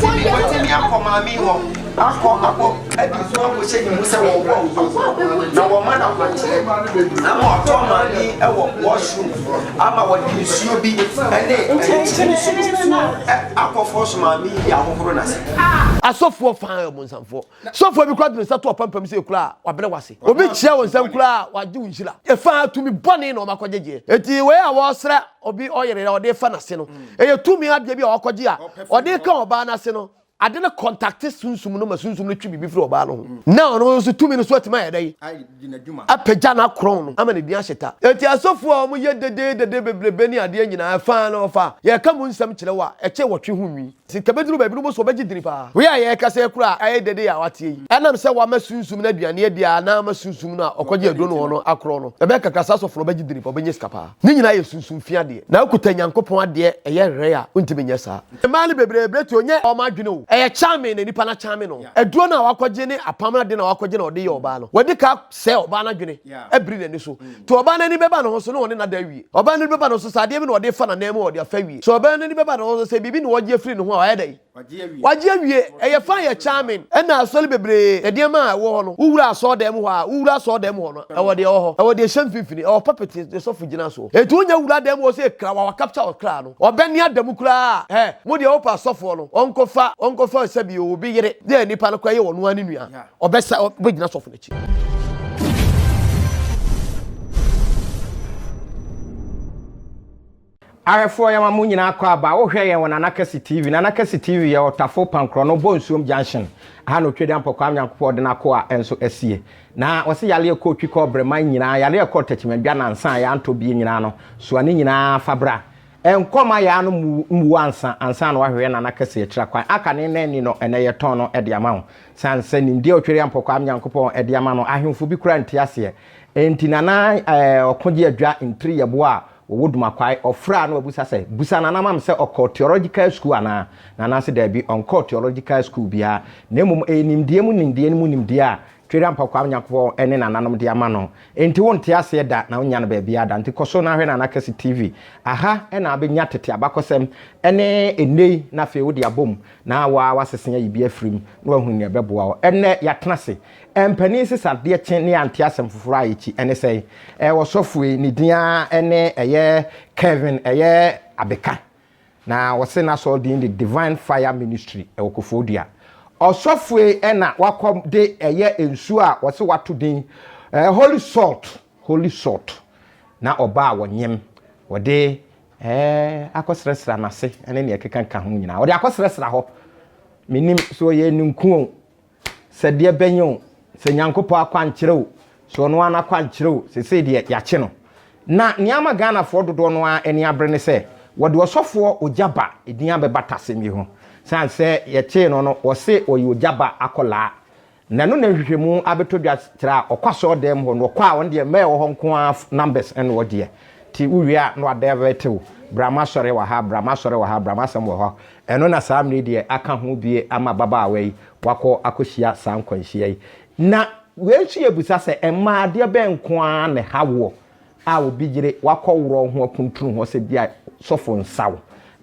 Temi, Watemi akɔ Maame hɔ akɔ abɔ adi nso akɔhyɛ ne mu sɛ wɔbɔ nso na wɔma no akwankyerɛ ama ɔtɔ Maame wɔ washroom ama wɔde nsuo bi ne nkyɛnkyɛn akɔfɔ so Maame de ahohoro n'ase. Asɔfoɔ faa ɔbonsamfoɔ Sɔfoɔ bi koraa de ne nsa to w'apampam sɛ ekura a, wabrɛ wo ase. Obi kyea wo nsam koraa a, wagye wo nhyira. Ɛfa ara tumi bɔne na wɔakɔgyegyeɛ. Enti wei a wɔresra obi ɔyere a ɔde refa n'ase no, ɛyɛ tumi adeɛ bi a wɔakɔgye a wɔde reka ɔbaa no ase no. Ade no kɔntakte sunsum no ma sunsum no twe biribi firi ɔbaa no ho, na ɔno nso tumi no so atumi ayɛ dɛn? Apagya n'akorɔn no ama n'adin ahyɛ ta. Enti asɔfoɔ a wɔyɛ dedeedede bebrebe ne adeɛ nyinaa, ɛfa ara na wɔfa a, yɛreka mu nsɛm kyerɛ wo a, ɛkyɛ wɔtwe ho nwi. Sika bɛduru baabinom so ɔbɛgye dini paa. Wei a yɛrekasa yi koraa ayɛ dede a wateɛ yi. Ɛnam sɛ wama sunsum no aduane adi a na ama sunsum no a ɔkɔgye aduro no hɔ no akorɔn no, ɛbɛyɛ kakra saa sɔfo no ɔbɛgye dini paa, ɔbɛnya sika paa. Ne nyinaa yɛ sunsum fi adeɛ. Na wokuta Nyankopɔn adeɛ ɛyɛ hwɛe a wontumi nyɛ saa. Mmaa no bebree berɛtuo nyɛ wɔn adwene o. Ɛyɛ charming na nipa no akyame no. Aduro no a wakɔgye ne apam no ade no a wakɔgye na ɔde yɛ ɔbaa no, wadi ka. Sɛ ɔbaa no adwene abiri n'ani so nti, ɔbaa no ani bɛba ne ho so na ɔne no ada awie. Ɔbaa no ani bɛba ne ho so sɛ adeɛ bi na ɔde refa n'anan mu a, ɔde afa awie. Sɛ ɔbaa no ani bɛba ne ho so sɛ biribi na ɔregye afiri ne ho a, wayɛ dɛn? Wagye awie. Ɛyɛ fine, ɛyɛ charming. Ɛnna asɔre bebree, nneɛma a ɛwɔ hɔ no, wowura asɔredan mu hɔ a, wowura asɔredan mu hɔ no, ɛwɔ deɛ ɛwɔ hɔ. Ɛwɔ deɛ ɛhyɛ mfimfini, ɛwɔ pulpit a ɔsɔfo gyina soɔ. Enti wonya wura dan mu hɔ sɛ kra, wawa capture wo kra no, ɔbɛne ada mu koraa a, hɛ, mo deɛ wopɛ asɔfoɔ no, ɔnkɔfa, ɔnkɔfa sɛbi obi yere, dɛ nnipa no koraa yɛ wɔn ara ne nua. Ɔbɛsa ɔbɛgyina sɔfo no akyi. Ahwɛfoɔ yɛma mo nyinaa kɔ aba wohwɛ yɛn wɔ Nana Kɛse TV. Nana Kɛse TV yɛ Ɔtafo Pankorɔno Bonsuom Junction aha na Otwadia Mpɔkwaa Nyankopɔn ɔde n'akoa nso asie. Na wɔse yareɛ kɔɔ twi kɔɔ brɛman nyinaa, yareɛ kɔɔ takyimandwa nansa a yɛa ntɔ bie nyinaa no, soa ne nyinaa fa bra. Nkɔ ma yɛa no mmuo ansa ansa na wahwehwɛ Nana Kɛse akyira kwan. Aka ne nna nni no ɛnɛ yɛtɔn no de ama wo. Esiane sɛ nimdeɛ a Otweriampɔ Kwame Nyankopɔn de ama no, ahemfo bi koraa nte aseɛ nti, Nana Ɔkogye-Adwa ntiri yɛboɔ a wɔwɔ Dumakwae. Ɔfra na wabisa sɛ, Bisa Nana ma me sɛ ɔkɔɔ Theological School anaa? Nana se daabi, ɔnkɔɔ Theological School biara, na mmom ɛyɛ nimdeɛ mu nimdeɛ no mu nimdeɛ a Tweriampɔ Kwame Nyankopɔn ne Nananom de ama no nti. Wonte aseɛ da na wonnya no baabiara da nti, kɔ so na hwɛ Nana Kɛse TV. Aha na wobɛnya tete abakɔsɛm ne nnɛyi no afei wode abom Na wo ara w'asese ayi bi afiri mu na wahu nea ɛbɛboa wo. Ɛnnɛ, yɛatena ase. Mpanin nsesadeɛ kye ne yɛante asɛm foforɔ a ɛkyi. Ɛne sɛn? Ɛyɛ ɔsɔfo yi, ne din ara ne ɛyɛ Kevin, ɛyɛ Abeka. Na wɔse n'asɔre din de Divine Fire Ministry, ɛwɔ Koforidua. Ɔsɔfo yi na wakɔ de ɛyɛ nsuo a wɔse wato din Holy Salt, Holy Salt, na ɔbaa wɔnyem, wɔde Ɛɛ, akɔsrasra n'ase ne nea ɛkekaka ho nyinaa. Ɔde akɔsrasra hɔ. Mennim, sɛ ɔyɛ ninkun o, sɛ deɛ bɛn o, sɛ Nyankopɔn akwankyerɛ o, sɛ ɔno ara n'akwankyerɛ o, seesei deɛ yɛakye no. Na nea ama Ghanafoɔ dodoɔ no ara ani abere ne sɛ, wɔde ɔsɔfoɔ Ogyaba din abɛbata asɛm yi ho. Sane sɛ yɛkyee no no, wɔse ɔyɛ Ogyaba akwadaa. Na ɛno na nhwehwɛmu abɛtɔ dwa kyerɛ a ɔkɔ asɔɔdan mu hɔ no ɔkɔ a ɔno deɛ mmaa ɛwɔ hɔ nko ara numbers ɛna ɔdeɛ nti wo wie a na wa divert wo bra mo asɔre wɔ ha bra mo asɔre wɔ ha bra mo asɛm wɔ hɔ ɛno na saa mmere deɛ aka ho bie ama ababaawa yi wakɔ akɔ hyia saa nkwanhyia yi na wei nso yɛ bisa sɛ mmaa adeɛ bɛn nko ara na ɛha woɔ a obi yere wakɔworɔw ho akuntunu hɔ sɛ ebia sɔfo nsaw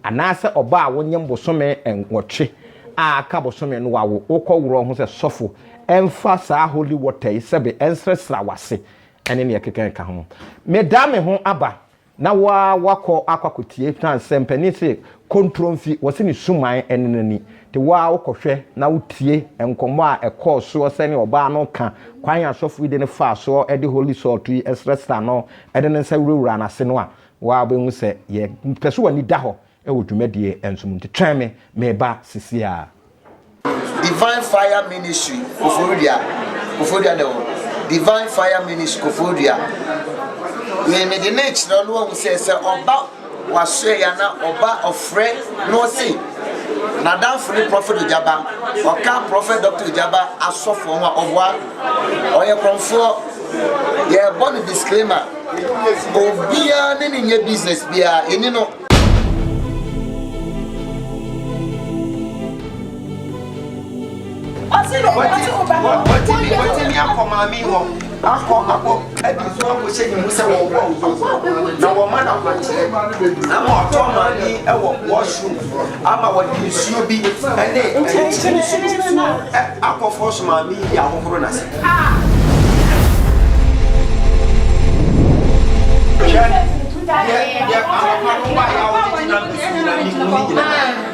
anaasɛ ɔba a wonyem bosome nwɔtwe a aka bosome no wawo wokɔworɔw ho sɛ sɔfo mfa saa holy water yi sɛbe nsrɛsra w'ase ne nea ɛkeka ɛka ho. Meda me ho aba na wo ara woakɔ akɔ akɔtie na sɛ mpanin se kontromfi wɔse ne suman ne n'ani. De wo ara wokɔhwɛ na wotie nkɔmmɔ a ɛkɔɔ soɔ sɛdeɛ ɔbaa no reka kwan a asɔfo yi de no faa soɔ de holy salt yi srɛsraa no de ne nsa wurawuraa n'ase no a, wo ara wobɛhu sɛ yɛpɛ sɛ w'ani da hɔ wɔ dwumadie nso mu. Nti twɛn me, mereba seeseiara. Divine Fire Ministry Koforidua Koforidua da hɔ Divine Fire Ministry Koforidua Me mede no rekyerɛ wo na woahu sɛ sɛ ɔba Wasoɛ ya na ɔba ɔfrɛ na ɔse nadamfo ne Prophet Ojaba ɔka Prophet Doctor Ojaba asɔfoɔ ho a ɔboa ɔyɛ korɔmfoɔ yɛbɔ no disclaimer obia ne ne nyɛ business biaa yɛni no. Ɔsi na ɔbɛma ti ɔba no. Wɔti mi wɔti mi akɔ maame hɔ akɔ akɔ kadi so akɔ hyɛ ne mu sɛ wɔn wɔ nfo na wɔn ma na kwankyerɛ ama ɔtɔ maame ɛwɔ wɔhyew ama wɔde nsuo bi ɛne ɛnkyɛn nsuo akɔ fɔ so maame yi ahohoro na se. Yɛ yɛ amapa no wa yɛ awo ne gyina mbɛsi nyina ne mu ne nyina.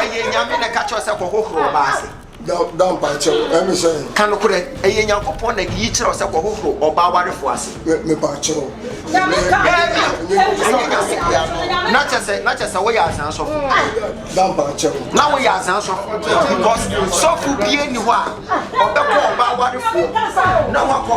ɛyɛ nyame na ɛka kyerɛ sɛ kɔhohoro ɔba ase ka nokorɛ ɛyɛ nyankopɔn na de yi kyerɛ sɛ kɔhohoro ɔba awarefo ase na kyɛ sɛ woyɛ asan sɔfo na woyɛ asan sɔfo because sɔfo bie ni hɔ a ɔbɛkɔ ɔba awarefoɔ na wakɔ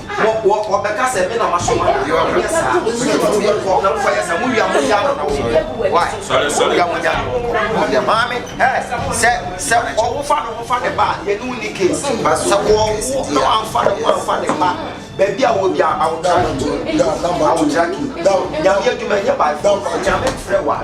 Wɔ, wɔ, wɔbɛka sɛ me na masoma no, deɛ ɔnyɛ saa, me nso mɛtumi de nkɔ, na mfa yɛ saa, mowia mogya ano na wɔnkɔ, why, mowia mogya ano wɔnkɔ, mowia, maame, ɛ, sɛ, sɛ ɔwofa ne ho fa ne ba a, yɛne wo ni case, sɛ wɔwo na wamfa ne ho amfa ne ba, baabi a wɔ bia, awotra ki, awotra ki, nyame adwuma nyɛ by force, nyame mfrɛ wa.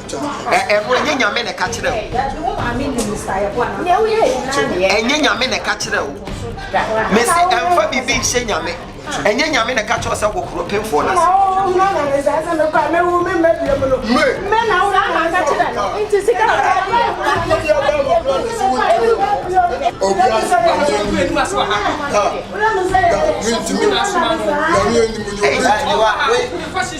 ɛno ɛnyɛ nyame na ɛka kyerɛ wo ɛnyɛ nyame na ɛka kyerɛ wo mesi ɛmfa biribi nhyɛ nyame ɛnyɛ nyame na ɛka kyerɛ sɛ hohoro pemfoɔ no ase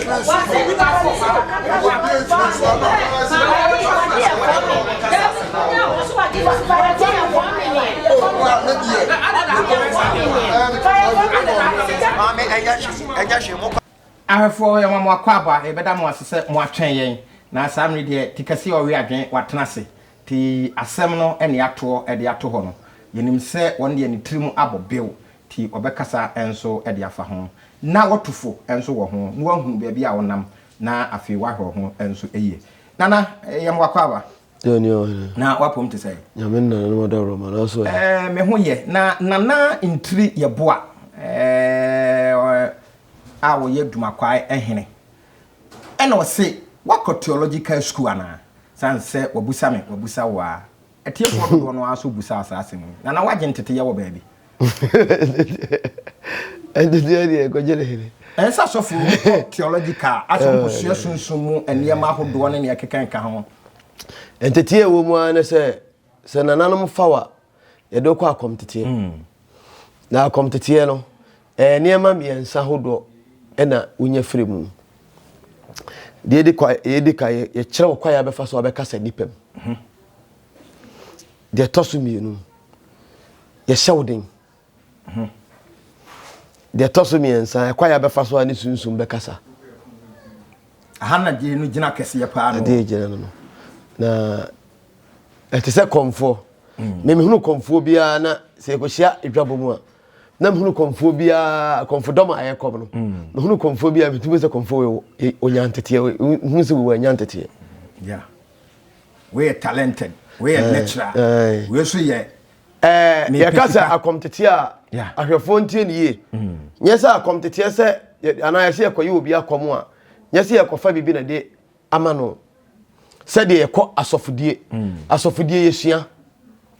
Ahwɛfoɔ, yɛma mo akwaaba, yɛbɛda mo ase sɛ moatwɛn yɛn, na saa mmere deɛ te kɛseɛ ɔwe adwene watena ase, te asɛm no ne atoɔ de ato hɔ no, yɛnim sɛ wɔn deɛ ne tirim abɔ bew, pii ɔbɛkasa nso de afa ho, na watu fo nso wɔ ho, na wahu baabi a ɔnam, na afei wahwɛ ho nso yie. Nana, yɛn mmoa kɔ aba. Deɛ ni ɔhene. Na wapom te sɛ. Nyame nana no mada wura ma na so ɛ. Ɛɛ me ho yɛ na nana ntiri yɛ boa ɛɛ a wɔyɛ dumakwae ɛhene ɛna ɔse wakɔ theological school anaa sansɛ wabusa me wabusa wo a. Atiefoɔ dodoɔ no ara nso bisaa saa asɛm yi. Nana woagye nteteyɛ wɔ baabi? Nteteyɛ deɛ ɛkɔgye ne hene. Ɛyɛ sɛ asɔfo no kɔ theological a asɛ wɔkɔsua sunsum mu nneɛma ahodoɔ ne nea ɛkekakeka ho. Nteteyɛ a ɛwɔ mu ara ne sɛ, sɛ nananom fa wo a, yɛde wo kɔ akɔmteteɛ. Na akɔmteteɛ no, Ɛyɛ nneɛma mmiɛnsa hodoɔ na wonya firi mu. Deɛ ɛdi kwa, deɛ ɛdi kan, yɛkyerɛ wo kwan a bɛfa so abɛkasa nnipa mu. Mhm. Deɛ ɛtɔ so mmienu, yɛhyɛ wo den. Mhm. Deɛ ɛtɔ so mmiɛnsa, ɛkwan a bɛfa so a ne sunsum bɛkasa. Aha na deɛ no gyina kɛseɛ paa no. Deɛ gyina no no. Na ɛte sɛ kɔmfoɔ. Mm. Memehunu kɔmfoɔ biara na sɛ yɛkɔhyia adwabɔ mu a, na mehunu kɔmfoɔ biara kɔmfodɔm a ɛyɛ kɔm no mehunu kɔmfoɔ biara metumi sɛ kɔmfoɔ ɔnya nteteɛ hunu sɛ wɔ anya nteteɛ woyɛ talented woyɛ eh, natural eh. wei so yɛ eh, yɛka sɛ akɔmteteɛ a ahwɛfoɔ ntie ne yie mm. nyɛ sɛ akɔmteteɛ sɛ anaa yɛsɛ yɛkɔyɛ obi akɔm a nyɛ sɛ yɛkɔfa biribi na de ama no sɛdeɛ yɛkɔ asɔfodie asɔfodie yɛsua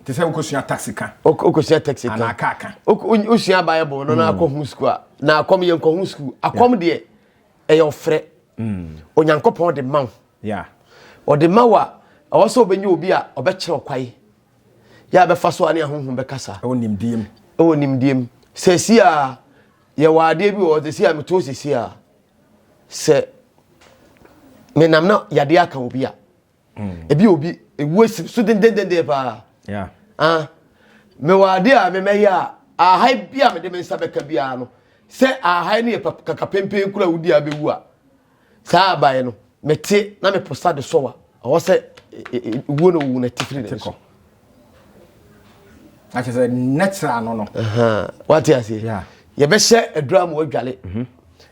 te sɛ wokɔsua taxi ka wokɔsua taxi ka anaa kaa ka wosua bible no na akɔ ho sukuu a na akɔm yɛnkɔ ho sukuu akɔm deɛ ɛyɛ ɔfrɛ onyankopɔn ɔde ma wo ɔde ma wo a ɛwɔ sɛ wobɛnya obi a ɔbɛkyerɛ ɔkwae yɛ a bɛfa so a ne ahonhom bɛkasa ɛwɔ nimdiem ɛwɔ nimdiem sɛsi a yɛwɔ adeɛ bi wɔ sɛsi a metoo sɛsi a sɛ menam na yadeɛ aka obi a hmm. ebi obi ewu esi so dendendenden paa ah mewɔ adeɛ a memɛyɛ a ahae bi a mede me nsa bɛka biara no sɛ ahae no yɛ kaka pempen kura wodi a bɛwu a saa abaeɛ no mete na meposa de sɔwa ɔwɔ sɛ e, e, e, wuo na owu na tifiri ne so na kyerɛ sɛ natural ano no wate aseɛ yɛbɛhyɛ aduro ama wadwale mhm.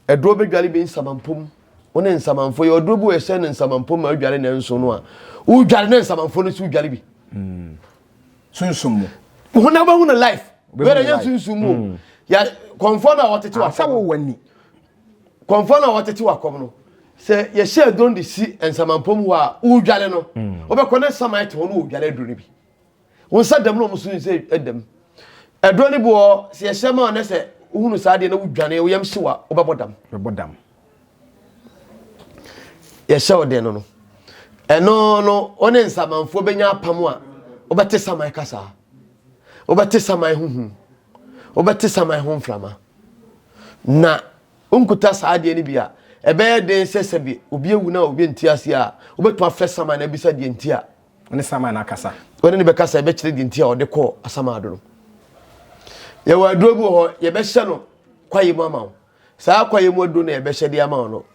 aduro bɛdwale bi nsamampom wo ne nsamanfo yɛ ɔduro bi wɔ ɛhyɛ ne nsamanfo ma adwale ne nso no a wodwale ne nsamanfo no so wodwale bi hmm. sunsum mu ho na wobɛhu no life wɛrɛ yɛ sunsum mu hmm. yɛ kɔnfɔ no a wɔtete wɔ sɛ wowɔ ani kɔmfɔ no a wɔtete wakɔm no sɛ yɛhyɛ don de si nsamanpɔ mu hɔ a wodwale no mm. wobɛkɔ ne nsaman ɛte hɔ no wɔdwale aduro no bi wo nsa dam no ɔmo so sɛ ɛdam ɛduro no bi wɔ sɛ yɛhyɛ ma ɔnɛ sɛ wohunu saa deɛ na wodwane woyam hye wa wobɛbɔ dam bɛbɔ dam yɛhyɛ ɔdɛn no no ɛno no wo ne nsamanfoɔ bɛnya apam a wobɛte saman kasaa wobɛte saman huhu wobɛte saman ho mframa na wonkuta saa adeɛ no bi a ɛbɛyɛ den sɛ sɛbi obi awu na obi nte ase a wobɛtumi afrɛ saman na abisa deɛ nti a ɔne saman no akasa ɔne ne bɛkasa ɛbɛkyerɛ deɛ nti a ɔde kɔɔ asamado no yɛwɔ aduro bi wɔ hɔ yɛbɛhyɛ no kwaeɛ mu ama wo saa kwaeɛ mu aduro no yɛbɛhyɛ de ama wo no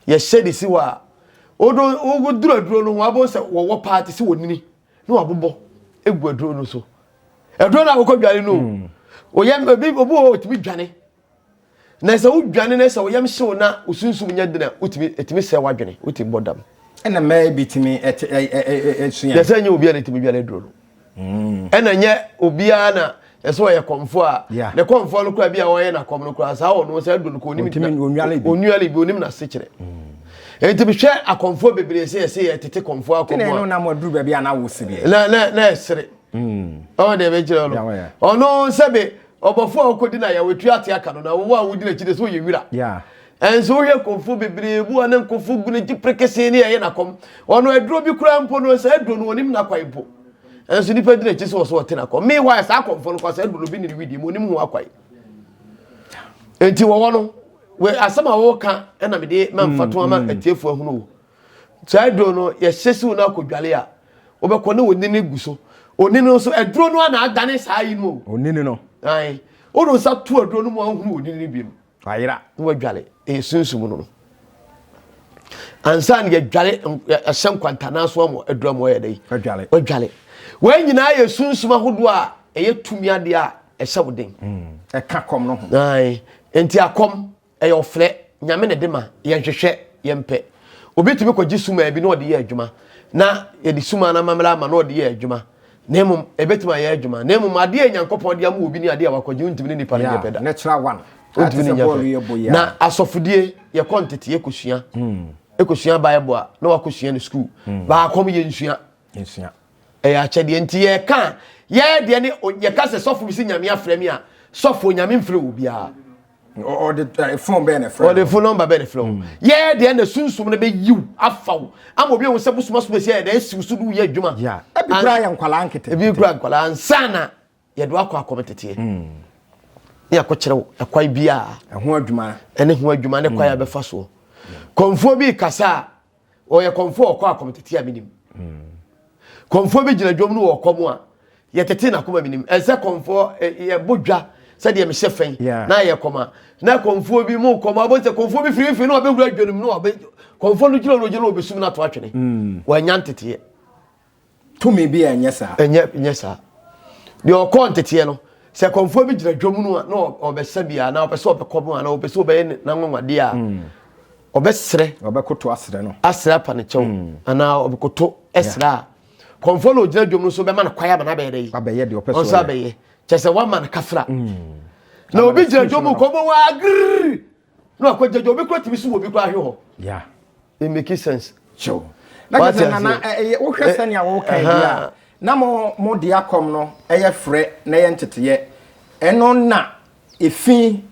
yɛhyɛ de si hɔ a woduro aduro no ho abɔ sɛ wɔwɔ paa te sɛ wɔnini na wabobɔ egu aduro no so aduro no a wokɔ dwane no hmm. oyam obi obi wɔ otumi dwane na sɛ wodwane na sɛ oyam hyew na osunsum nyɛ dena otumi etumi sɛ wadwene otumi bɔ dam ɛna mɛɛ bi tumi ɛte ɛɛ ɛɛ ɛsua yɛsɛ nyɛ obi a na etumi dwane aduro no hmm. ɛna nyɛ obiara na ɛsɛ ɔyɛ kɔmfoɔ a ne kɔmfoɔ no koraa bi a ɔyɛ n'akɔm no koraa saa ɔno sɛ adu no ko onim onwale bi onim n'asekyerɛ nti mehwɛ akɔmfoɔ bebree sɛ yɛsɛ yɛ tete kɔmfoɔ akɔm a na mo aduru baabi a na wo sereɛ na na na ɛsere ɔwɔ deɛ bɛkyerɛ no ɔno sɛ be ɔbɔfoɔ a ɔkɔdi no ayɛwo tu ate aka no na wowɔ a wodi n'akyi de sɛ ɔyɛ wira ɛnso wohwɛ kɔmfoɔ bebree bu a ne nkɔfoɔ gu no gye prekesee ne ɛyɛ n'akɔm ɔno aduro bi koraa mpo no sɛ aduro no onim n'akwan mpo ɛnso nnipa di n'akyi sɛ ɔsɛ ɔte n'akɔ meanwhile saa akɔmfo no kwasa aduro no bi ne ne widi mu onim ho akwae nti wɔwɔ no wɔ asɛm a wɔka ɛna mede mamfa to ama mm, mm. atiefo ahunu wo saa aduro no yɛhyɛ siw no akɔdwale a wobɛkɔ ne onini gu so onini no nso aduro no ana adane saa yi no onini no ae wode nsa to aduro no mu ahunu onini bi mu Wayera na wadware ɛyɛ sunsum no no ansa na yɛdware ɛhyɛ nkwantanaa so ama aduru ama ɔyɛ dɛ wadware wadware wɔn nyinaa yɛ sunsum ahodoɔ a ɛyɛ tumi adeɛ a ɛhyɛ wo den hmm. ɛka kɔm no ho nti akɔm ɛyɛ ɔfrɛ nyame na ɛde ma yɛnhwehwɛ yɛmpɛ obi tumi kɔgye suma bi na ɔde yɛ adwuma na yɛde suma no amammerɛ ama na ɔde yɛ adwuma na mmom ɛbɛtumi ayɛ adwuma na mmom adeɛ a nyankopɔn de ama obi ne adeɛ a wakɔgye wontumi ne nipa no nyɛ pɛ da natural one wontumi ne nyɛ pɛ na asɔfodie yɛkɔ ntete yɛkɔsua hmm. ɛkɔsua bible a na wakɔsua no sukuu hmm. baakɔm yɛnsua ɛyɛ akyɛdeɛ nti yɛka yɛdeɛ ne yɛka sɛ sɔfo bi sɛ nyame afrɛ me a sɔfo nyame mfrɛ wɔ biara ɔde eh, fon bɛyɛ na fira ɔde fon nɔmba bɛyɛ na fira hmm. yɛyɛ deɛ na sunsum no bɛyiw afa wo ama obi ehu sɛ bosomasom esi yɛ dɛ esiw so do yɛ adwuma ebi kura yɛ nkwadaa nkete ebi kura nkwadaa nsana yɛde wakɔ akɔm teteɛ hmm. ne yɛkɔ kyerɛ wo ɛkwan biara ɛho adwuma ɛne ho adwuma ne kwan yɛ hmm. bɛfa soɔ kɔnfoɔ bi kasa a ɔyɛ kɔmfo a ɔkɔ akɔm tete a menim kɔmfoɔ bi gyina dwom no wɔ ɔkɔm a yɛtete n'akoma menim ɛnsɛ kɔmfoɔ yɛbɔ dwa sɛdeɛ mehyɛ fɛn na yɛ kɔm a na kɔmfoɔ bi mu kɔm abɔ sɛ kɔmfoɔ bi firifiri na ɔbɛwura dwanom na ɔbɛ kɔmfoɔ no gyina ɔno gyina ɔbɛsum no ato atwene wanya nteteɛ Tumi bi a ɛnyɛ saa. Ɛnyɛ nyɛ saa. Deɛ ɔkɔɔ nteteɛ no, sɛ kɔmfoɔ bi gyina dwom no a na ɔbɛsa bi a na ɔpɛ sɛ ɔbɛkɔ mu a na ɔpɛ sɛ ɔbɛyɛ n'anwanwadeɛ a hmm. ɔbɛsrɛ ɔbɛkoto asrɛ no asrɛ apa ne kyɛw hmm. anaa ɔbɛkoto ɛsrɛ a kɔmfoɔ na ɔgyina dwom no so bɛma no kwae ama no abɛyɛ dɛ yi abɛyɛ deɛ ɔpɛ sɛ ɔnso abɛyɛ kyɛ sɛ wama no kafra hmm. na obi gyina dwom kɔmfoɔ waa giriri na wakɔ gyagya obi kura tumi so wɔ obi kura ahwɛ hɔ yeah it make sense kyew na kyerɛ sɛ nana ɛyɛ wohwɛ sɛnea wɔka yi a na mo mo de akɔm no ɛyɛ frɛ na ɛyɛ nteteyɛ ɛno na efi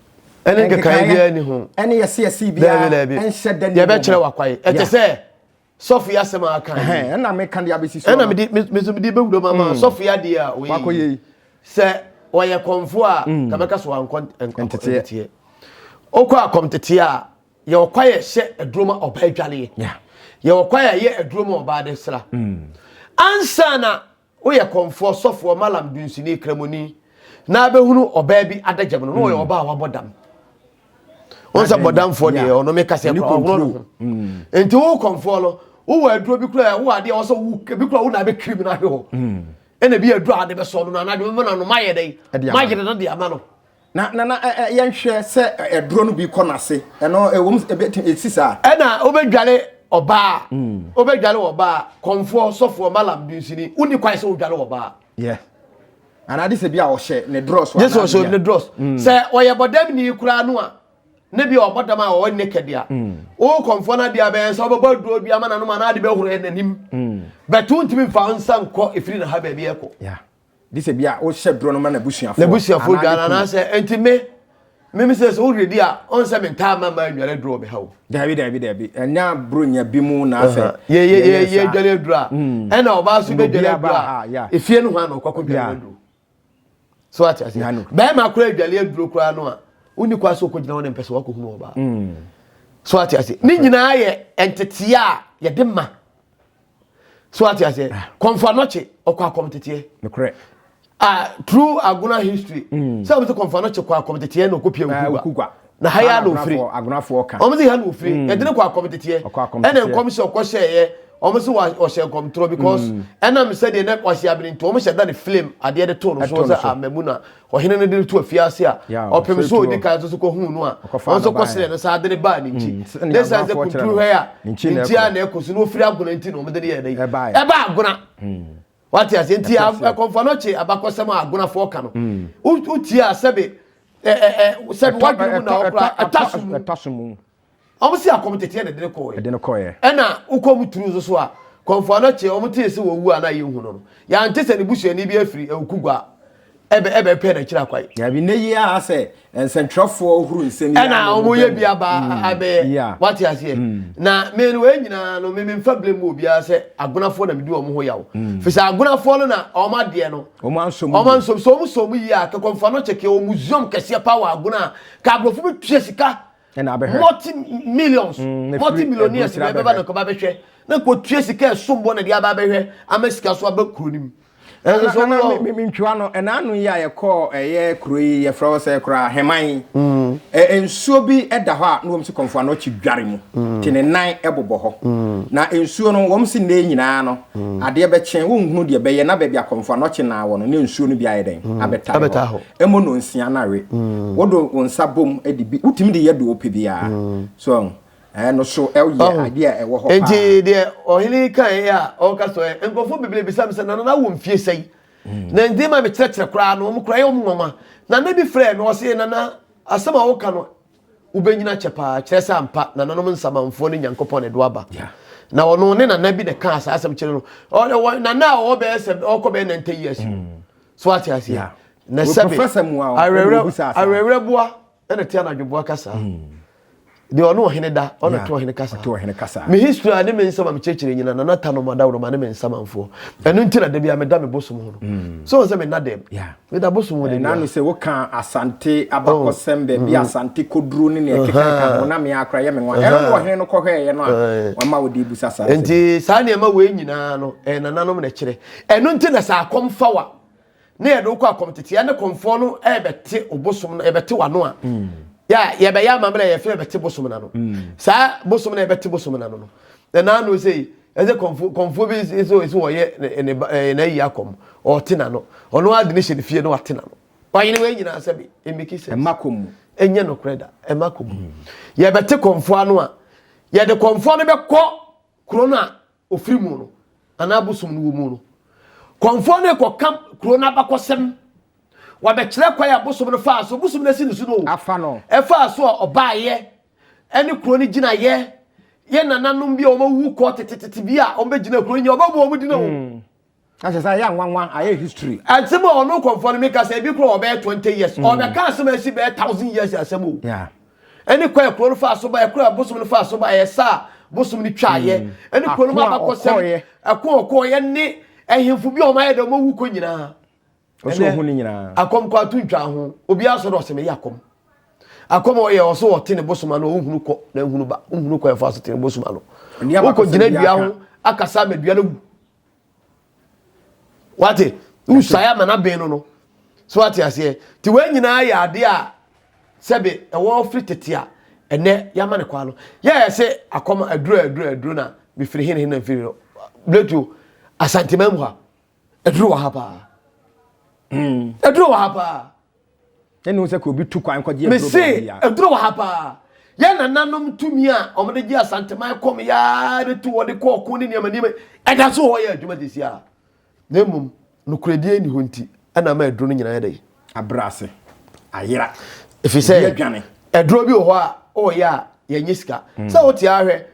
ɛne nkekaeɛ biara ni ho ɛne yɛse yɛse biara ɛnhyɛ dɛ ne yɛbɛkyerɛ wakwae ɛte sɛ sɔfo yi asɛm a aka yi. Ɛhɛn, ɛna meka de abɛsi so. Ɛna mede me nso mede bɛwura mu ama sɔfo yi adeɛ a wɔyɛ Wakɔyɛ yi. yi. Sɛ wɔyɛ kɔmfo a, ka bɛka so wankɔ nt- nk- Nteteɛ. nteteɛ. Wokɔ akɔmteteɛ a, yɛwɔ kwae a ɛhyɛ aduro ma ɔbaa adwaleɛ. Yeah. Yɛwɔ kwae a ɛyɛ aduro ma ɔbaa de sra. Ansa na Woyɛ kɔmfoɔ, sɔfoɔ, malam, dunsini, kramoni, na abɛhunu ɔbaa bi adagyam no na ɔyɛ hmm. ɔbaa a wabɔ dam wɔn sɛ bɔdamfoɔ deɛ ɔno mi kasa kura ɔhono no ho hmm. nti wo kɔmfoɔ no wowɔ aduro bi kura wo adeɛ wɔsɛ wo bi kura wo na abɛ kiri mu na ahwɛ hɔ hmm. ɛna bi aduro a de bɛ sɔɔ no na anadwo mɛmɛ na no mayɛ dɛ mayere no de ama no. Na na na yɛnhwɛ sɛ ɛdorɔ no bi kɔ n'ase ɛno ɛwɔ mu ɛbɛtumi ɛsi saa. Ɛna wobɛdwale ɔbaa mm. wobɛdwale ɔbaa kɔnfoɔ sɔfoɔ malam dunsini wonni kwan sɛ wodwale ɔbaa. Yeah anaa de sɛ bi a ɔhyɛ ne drɔs anaa ɔhyɛ ɔhyɛ ne drɔs mm. sɛ ɔyɛ bɔdɛm ni koraa no a ne bi a ɔbɔ dam a ɔwɔ ne kɛde a mm. o kɔnfɔ na deɛ bɛyɛ sɛ ɔbɛbɔ aduro bi ama n'anom anaa de bɛhoro yɛ n'anim mm. bɛtu ntumi nfa nsa nkɔ efiri na ha baabi ɛkɔ. gye sɛ bia wohyɛ duro no ma n'abusuafoɔ n'abusuafoɔ dwan anaasɛ nti me meme sɛ sɛ wohwɛ di a ɔn sɛ mentaa ma ma nnware aduro wɔ me ha o daabi daabi daabi ɛnyɛ aburonya bi mu na asɛ yɛyɛ dware aduro a mm. ɛna ɔbaa so bɛdware aduro a ɛfie no ho a na ɔkɔkɔ dware aduro so ate ase bɛrima koraa adware aduro koraa no a wonni kwa so kɔgyina hɔ ne mpɛ sɛ wakɔhunu ɔbaa mm. so ate ase ne nyinaa yɛ nteteɛ a yɛde ma so ate aseɛ ah. kɔnfa nɔkye ɔkɔ akɔm teteɛ nokorɛ ah true agona history mm. sɛ wɔn sɛ kɔnfa nɔkye kɔ akɔm teteɛ na ɔkɔ pia ah, okugwa na ha yɛ ana ofiri wɔn sɛ ha na ofiri mm. ɛdini kɔ akɔm teteɛ ɛna nkɔm sɛ ɔkɔ hyɛ yɛ wɔn sɛ ɔhyɛ nkɔm torɔ because mm. ɛnam sɛ deɛ na wɔahyɛ abiri nti wɔn hyɛ da ne film adeɛ de to no so sɛ amamuna ah, Ɔhene no de no too afiase a ɔpem so a odi kan no nso kohuu no a ɔno nso kɔsrɛɛ no saa de no baa ne nkyi. Na esiane sɛ kunturu hwɛ a ne nkyi ara na ɛkɔ so na ofiri Agona nti na wɔde no yɛɛ dɛn? Ɛbaa Agona. Wate aseɛ? Nti ɛkɔmfoɔ no kye abakɔsɛm a Agonafoɔ ka no. Wotie a sɛbe, sɛbe w'adwene mu na ɔkora, ɛtɔ so mu. Wɔn si akɔm tete ɛna ɛde no kɔɔɛ. Ɛde no kɔɔɛ. Ɛna wokɔ mu turu nso so a, kɔmfoɔ no kyeɛ wɔn tee se wɔwu a na yɛn hu no no. Yɛante se ne busuani bi afiri Awukugwa ɛbɛ ɛbɛ pɛ n'akyiri akwan. Daabi, nnɛ yi ara sɛ nsɛntwerɛfoɔ huru nsɛm yi ano no, wɔyɛ bi aba abɛyɛ. Wate aseɛ? Na me no wei nyinaa no, me memfa blame mu obiara sɛ Agonafoɔ na medi wɔn ho yaw. Firi sɛ Agonafoɔ no na wɔn adeɛ no, wɔn anso mu yie. Wɔn anso mu. Sɛ wɔn sɔɔ mu yie a, ka kɔmfoɔ no kyekeɛ wɔ museum kɛseɛ paa wɔ Agona a, ka aborɔfo bɛtua sika ɛna abɛhwɛ multi millions mm, multi millionaires bɛɛ bɛba na kɔba bɛhwɛ na kɔtua sika ɛsom bɔ na de aba abɛhwɛ ama sika so aba kuro no mu mentwewa no ɛna ano yi a yɛkɔɔ ɛyɛ kuro yi yɛfrɛ hɔ sɛ koraa heman mm. nsuo bi da hɔ a na wɔm si kɔmfo ano akyi dware mu mm. te ne nan bobɔ hɔ mm. na nsuo no wɔm si nnɛ nyinaa no adeɛ bɛkyɛn wonhunu deɛ bɛyɛ na baabi akɔmfo ano kye naa wɔ no ne nsuo no bi ayɛ dɛn abɛta hɔ Ɛmo no nsia na we. Mm. Wo do wo nsa bom de bi wotumi de yɛ do ope bi a. Mm. So ɛho. Ɛɛ no so ɛyɛ oh. adeɛ a ɛwɔ hɔ paa. Eti deɛ ɔhene yi kan yɛ a ɔka so ɛ eh, nkurɔfoɔ bebree bisa mi sɛ nana na wo mfie sɛyi. Mm. Na nti ma mi kyerɛkyerɛ koraa no wɔn kura yɛ wɔn nwanwa. Nana bi frɛ mi ɔsɛ nana asɛm a wɔka no wobɛnyina kyɛ paa kyerɛ sɛ ampa nananom nsamanfoɔ ne nyankopɔn ɛdo aba na ɔno ne nana bi na ɛka saa asɛm kyerɛ no nana a ɔwɔ bɛyɛ sɛ ɔkɔ bɛyɛ nante years mm. so wate aseɛ na sɛbe awerɛwerɛboa ɛna te anadwoboa kasa deɛ ɔne ɔhene da ɔna to ɔhene kasa me history a ne me nsɛm a mekyerɛkyerɛ nyina na nata no madaworoma ne me nsamanfoɔ ɛno nti na da bia meda me bosom ho no mm. so sɛ mena dɛm meda bosom ho dɛnano sɛ woka asante abakɔsɛm oh. baabi mm-hmm. asante kɔduro ne ne ɛkeka ho na me akora yɛ me nwa ɛno ne ɔhene no kɔhwɛɛyɛ no a wama wode busa saa nti saa nneɛma wei nyinaa no nananom na kyerɛ Ɛno nti na sɛ akɔm fa wa na yɛde wokɔ akɔmteteɛ ne kɔmfoɔ no ɛbɛte obosom no ɛbɛte wano a mm. yɛ yɛbɛyɛ amammerɛ yɛfɛ yɛbɛte bosom no ano mm. saa bosom no ɛbɛte bosom no ano no ɛna ano sɛ yi ɛsɛ kɔmfo kɔmfo bi nso nso wɔyɛ ne ne ɛɛ na yi akɔm ɔte na no ɔno adi ne hyɛ ne fie no ate na no wɔyɛ ne wɔyɛ nyinaa sɛ bi emeke sɛ ɛma kɔm mu ɛnyɛ no korɛ da ɛma kɔm mu yɛbɛte kɔmfo ano a yɛde kɔmfo no bɛkɔ kuro no a ɔfiri mu no anaa bosom no wɔ mu no kɔmfoɔ no kɔka kuro no abakɔsɛm wabɛkyerɛ kwan a bosom no faa so bosom no asi ne so no afa no ɛfaa so a ɔbaayɛ ɛne kuro no gyinayɛ yɛ nananom bi a wɔawu kɔ tetetete bi a wɔbɛgyina kuro nyɛ wɔbɛbɔ wɔn dina o hmm. Na kyerɛ sɛ ayɛ anwanwa, ayɛ history. Asɛm a ɔno kɔmfoɔ no meka sɛ ebi kora ɔbɛyɛ 20 years. Mm. Ɔbɛka asɛm a ɛsi bɛyɛ thousand years asɛm o. Yeah. Ɛne kɔ ɛkuro no faa so ba, ɛkuro a bosom no faa so ba, ɛyɛ saa bosom no twaayɛ. Mm. Ɛne kuro no ma abakɔsɛm, ɛko ɔkɔɔyɛ ne ɛhemfo bi a ɔmayɛ dɛ ɔmawu kɔ nyinaa. Ɔsɛ ɔhu ne nyinaa. Akɔm kɔ ato ntwa ho. Obi asɔ dɛ ɔsɛ meyɛ akɔm. Akɔm ɔyɛ ɔsɛ ɔte ne bosom ano, ɔhunu kɔ na ɛhunu ba, ɔhunu kɔ ɛfa so te ne bosom ano. Wokɔ gyina dua ho, akasa ama dua no wu. wate wosuae ama no aben no no so wate aseɛ nti wei nyinaa yɛ adeɛ a sɛbe ɛwɔ firi tete a ɛnɛ yɛama no kwaa no yɛyɛ sɛ akɔm aduro aduro aduro na mefiri hene hene na mfiri no bletuo asantema mu ha aduro wɔ ha paa hmm. aduro wɔ ha paa ɛne wo sɛ ka obi tu kwan kɔgye aduro mese baabi a aduro wɔ ha paa yɛ nananom tumi a wɔde gye asanteman kɔm yaa de tu wɔde kɔ ɔko ne nneɛma nneɛma ɛda so wɔ hɔ yɛ adwuma sisi a na mmom nokorɛdie nni hɔ nti ɛna ama aduro no nyinaa yɛ dɛ abrɛ ase ayera ɛfiri sɛ ebi adwane aduro bi wɔ hɔ a ɔyɛ a yɛnyɛ sika sɛ wote ahwɛ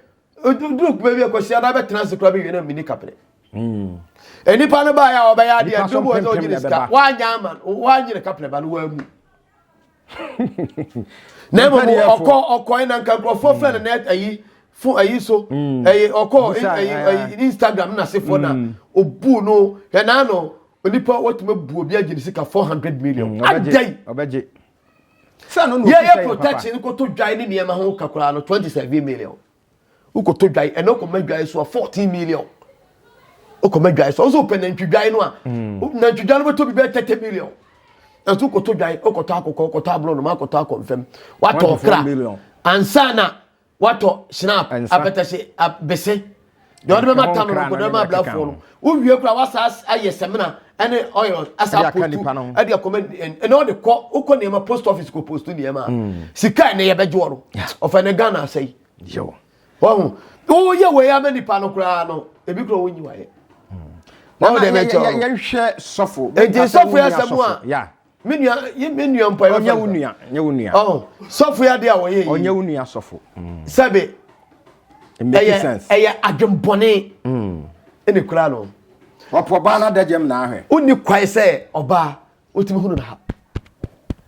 duru kuma bi akɔhyia na bɛtena ase koraa bɛwie na mini kapene hmm. nnipa no baeɛ a wɔbɛyɛ adeɛ nti wobu sɛ ɔnyine sika woanyɛ ama woanyere kapene ba no woamu na mmom ɔkɔ ɔkɔe na nka nkurɔfoɔ fɛ no net ayi fo ayi so hmm. ɛyɛ ɔkɔ ɛyɛ instagram na asefoɔ na hmm. obu no ɛnaa no onipa wɔtumi bu obi agye ne sika four hundred million adai yɛyɛ protection kɔtɔ dwae ne nneɛma ho ka koraa no 27 million wokɔtɔ dwae ɛna wokɔma dwae so a 14 million wokɔma dwae so ɔsɛ wopɛ nantwi dwae no a mm. nantwi dwae no bɛtɔ bi bɛyɛ 30 million ɛnso wokɔtɔ dwae wokɔtɔ akokɔ wokɔtɔ aborɔnoma akɔtɔ akɔmfam watɔ kra ansa na watɔ snap apɛtɛhye bese deɛ ɔde bɛma tam no nkɔdɔ ma ablafoɔ no wowie kora wasa ayɛ sɛmina ɛne oil asa postu ɛde akɔma ɛna ɔde kɔ wokɔ nneɛma post office kɔ postu nneɛma hmm. sika ɛne yɛbɛgye wɔ no ɔfɛ ne ghana asɛ yi wɔho woyɛ wei ama nipa no koraa no ebi kora wonyi wayɛ hmm. wɔn de bɛ kyɛw yɛhwɛ sɔfo eti sɔfo yɛ asɛm a Me nua, yɛ me nua mpo a yɛbɛfa Ɔnyɛ wo no. nua, nyɛ wo nua. Ɔho, sɔfo yɛ adeɛ a wɔyɛ yi. Ɔnyɛ wo nua sɔfo. Sɛbe, It make ɛyɛ, sense. ɛyɛ adwembɔne ɛna ɛkura no. Ɔpo ɔbaa no adagyam na ahwɛ. Wonni kwae sɛ ɔbaa wotumi hunu no ha.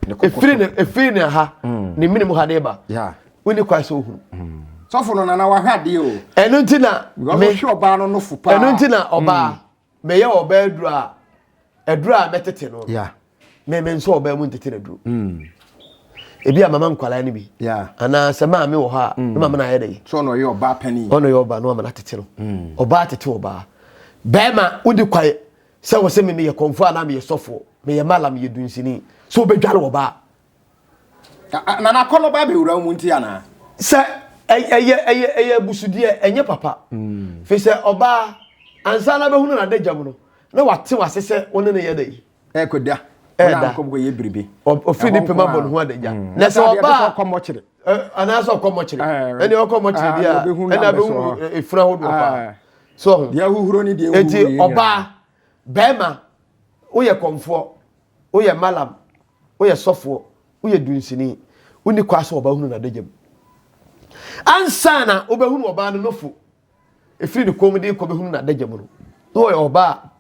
Ne koko Ɛfiri so. ne, ɛfiri ne ha, ne mene mu ha de ba. Yeah. Wonni kwae sɛ wohunu. Sɔfo no nana wahwɛ adeɛ o. Ɛno nti na Because me, wohwɛ ɔbaa no nofo paa. ɛno nti na ɔbaa. Meyɛ ɔbaa aduru a, aduru a mɛtete no. Yeah. Me me nso ɔbaa mu ntete na duru. Mm. Ebi a mama nkwalaa no bi. Yeah. Ana sɛ maa me wɔ hɔ a, mm. mama na ayɛ dɛ. So ɔno ɔyɛ ɔbaa panin. Ɔno yɛ ɔbaa no ama na tete no. Mm. Ɔbaa tete ɔbaa. Bɛrima wodi kwae sɛ wɔ sɛ me meyɛ kɔnfo a na meyɛ sɔfo, meyɛ mala, meyɛ dunsini. So obedware ɔbaa. Na n'akɔnnɔ ba abɛwura wo mu nti anaa? Sɛ ɛyɛ ɛyɛ ɛyɛ abusudeɛ ɛnyɛ papa. Mm. Fi sɛ ɔbaa ansa na bɛhunu n'adagya mu no na wate wase sɛ wo ne no yɛ da yi. Ɛkɔda. Ɛda. Ɔkɔyɛ biribi. Ɔfiri ne pɛma bɔ ne ho adagya. Mm. Na sɛ ɔbaa. Ɔkɔ mɔkyere. Anaasɛ ɔkɔ mɔkyere. Ɛne ɔkɔ mɔkyere deɛ a ɛna bɛhunu efunu ahodoɔ paa. So ho. Deɛ ahuhuro ne deɛ ahuhuro yɛ nyinaa. Eti ɔbaa bɛrima woyɛ kɔmfoɔ. Woyɛ Malam, woyɛ sɔfoɔ, woyɛ dunsini, wonni kwan sɛ wɔba hunu n'adagya mu. Ansa na wobɛhunu ɔbaa no nofo, ɛfiri ne kɔn mu de kɔ bɛhunu n'adagya mu no, na ɔyɛ ɔbaa a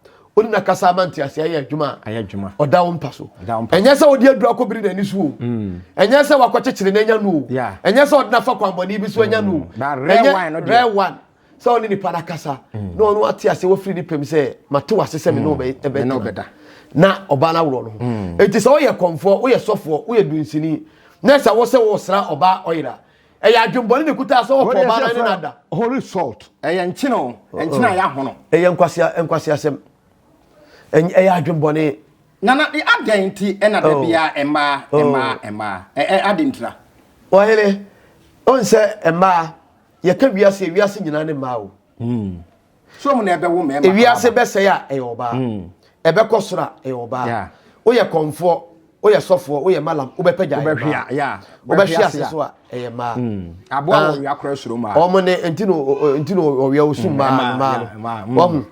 ɔne n'akasa ama nteaseɛ ayɛ adwuma a ɔda wo mpa so. Ɛnyɛ sɛ ɔde aduru akɔbiri n'ani so o, ɛnyɛ sɛ wakɔkyekyere no anya no o, ɛnyɛ sɛ ɔde no afa kwammɔne bi so anya no o, ɛnyɛ rare wine. sɛ ɔne nipa no akasa na ɔno ate ase wafiri ne pɛm sɛ mate wase sɛ me ne ɔbɛda na ɔbaa no aworɔ no ho enti sɛ woyɛ kɔmfoɔ woyɛ sɔfoɔ woyɛ dunsini na sɛ wo sɛ wosra ɔbaa ɔyera ɛyɛ adwembɔne ne kutaa sɛ wɔpɔ ɔbaa no ne no ada holy salt ɛyɛ nkyene o nkyene a yɛahono ɛyɛ nkwaseasɛm ɛyɛ adwembɔne nana adɛn nti ɛna da oh. biara mmaa oh. mmaa mmaa ɛɛ ade ntira. wɔyere ɔn sɛ mmaa yɛka wiase a wiase nyinaa ne mmaa o hmm. so mu na ɛbɛwo mmarima ewiase bɛsɛe a ɛyɛ ɔbaa hmm. ɛbɛkɔ soro a ɛyɛ ɔbaa woyɛ kɔnfoɔ woyɛ sɔfoɔ woyɛ malam wobɛpɛ gya ɛyɛ mmaa wobɛhwe ase so a ɛyɛ mmaa hmm. aboa wɔ ɔwia korɔ soro mmaa wɔn ne nti na ɔwia osu mmaa mmaa no wɔn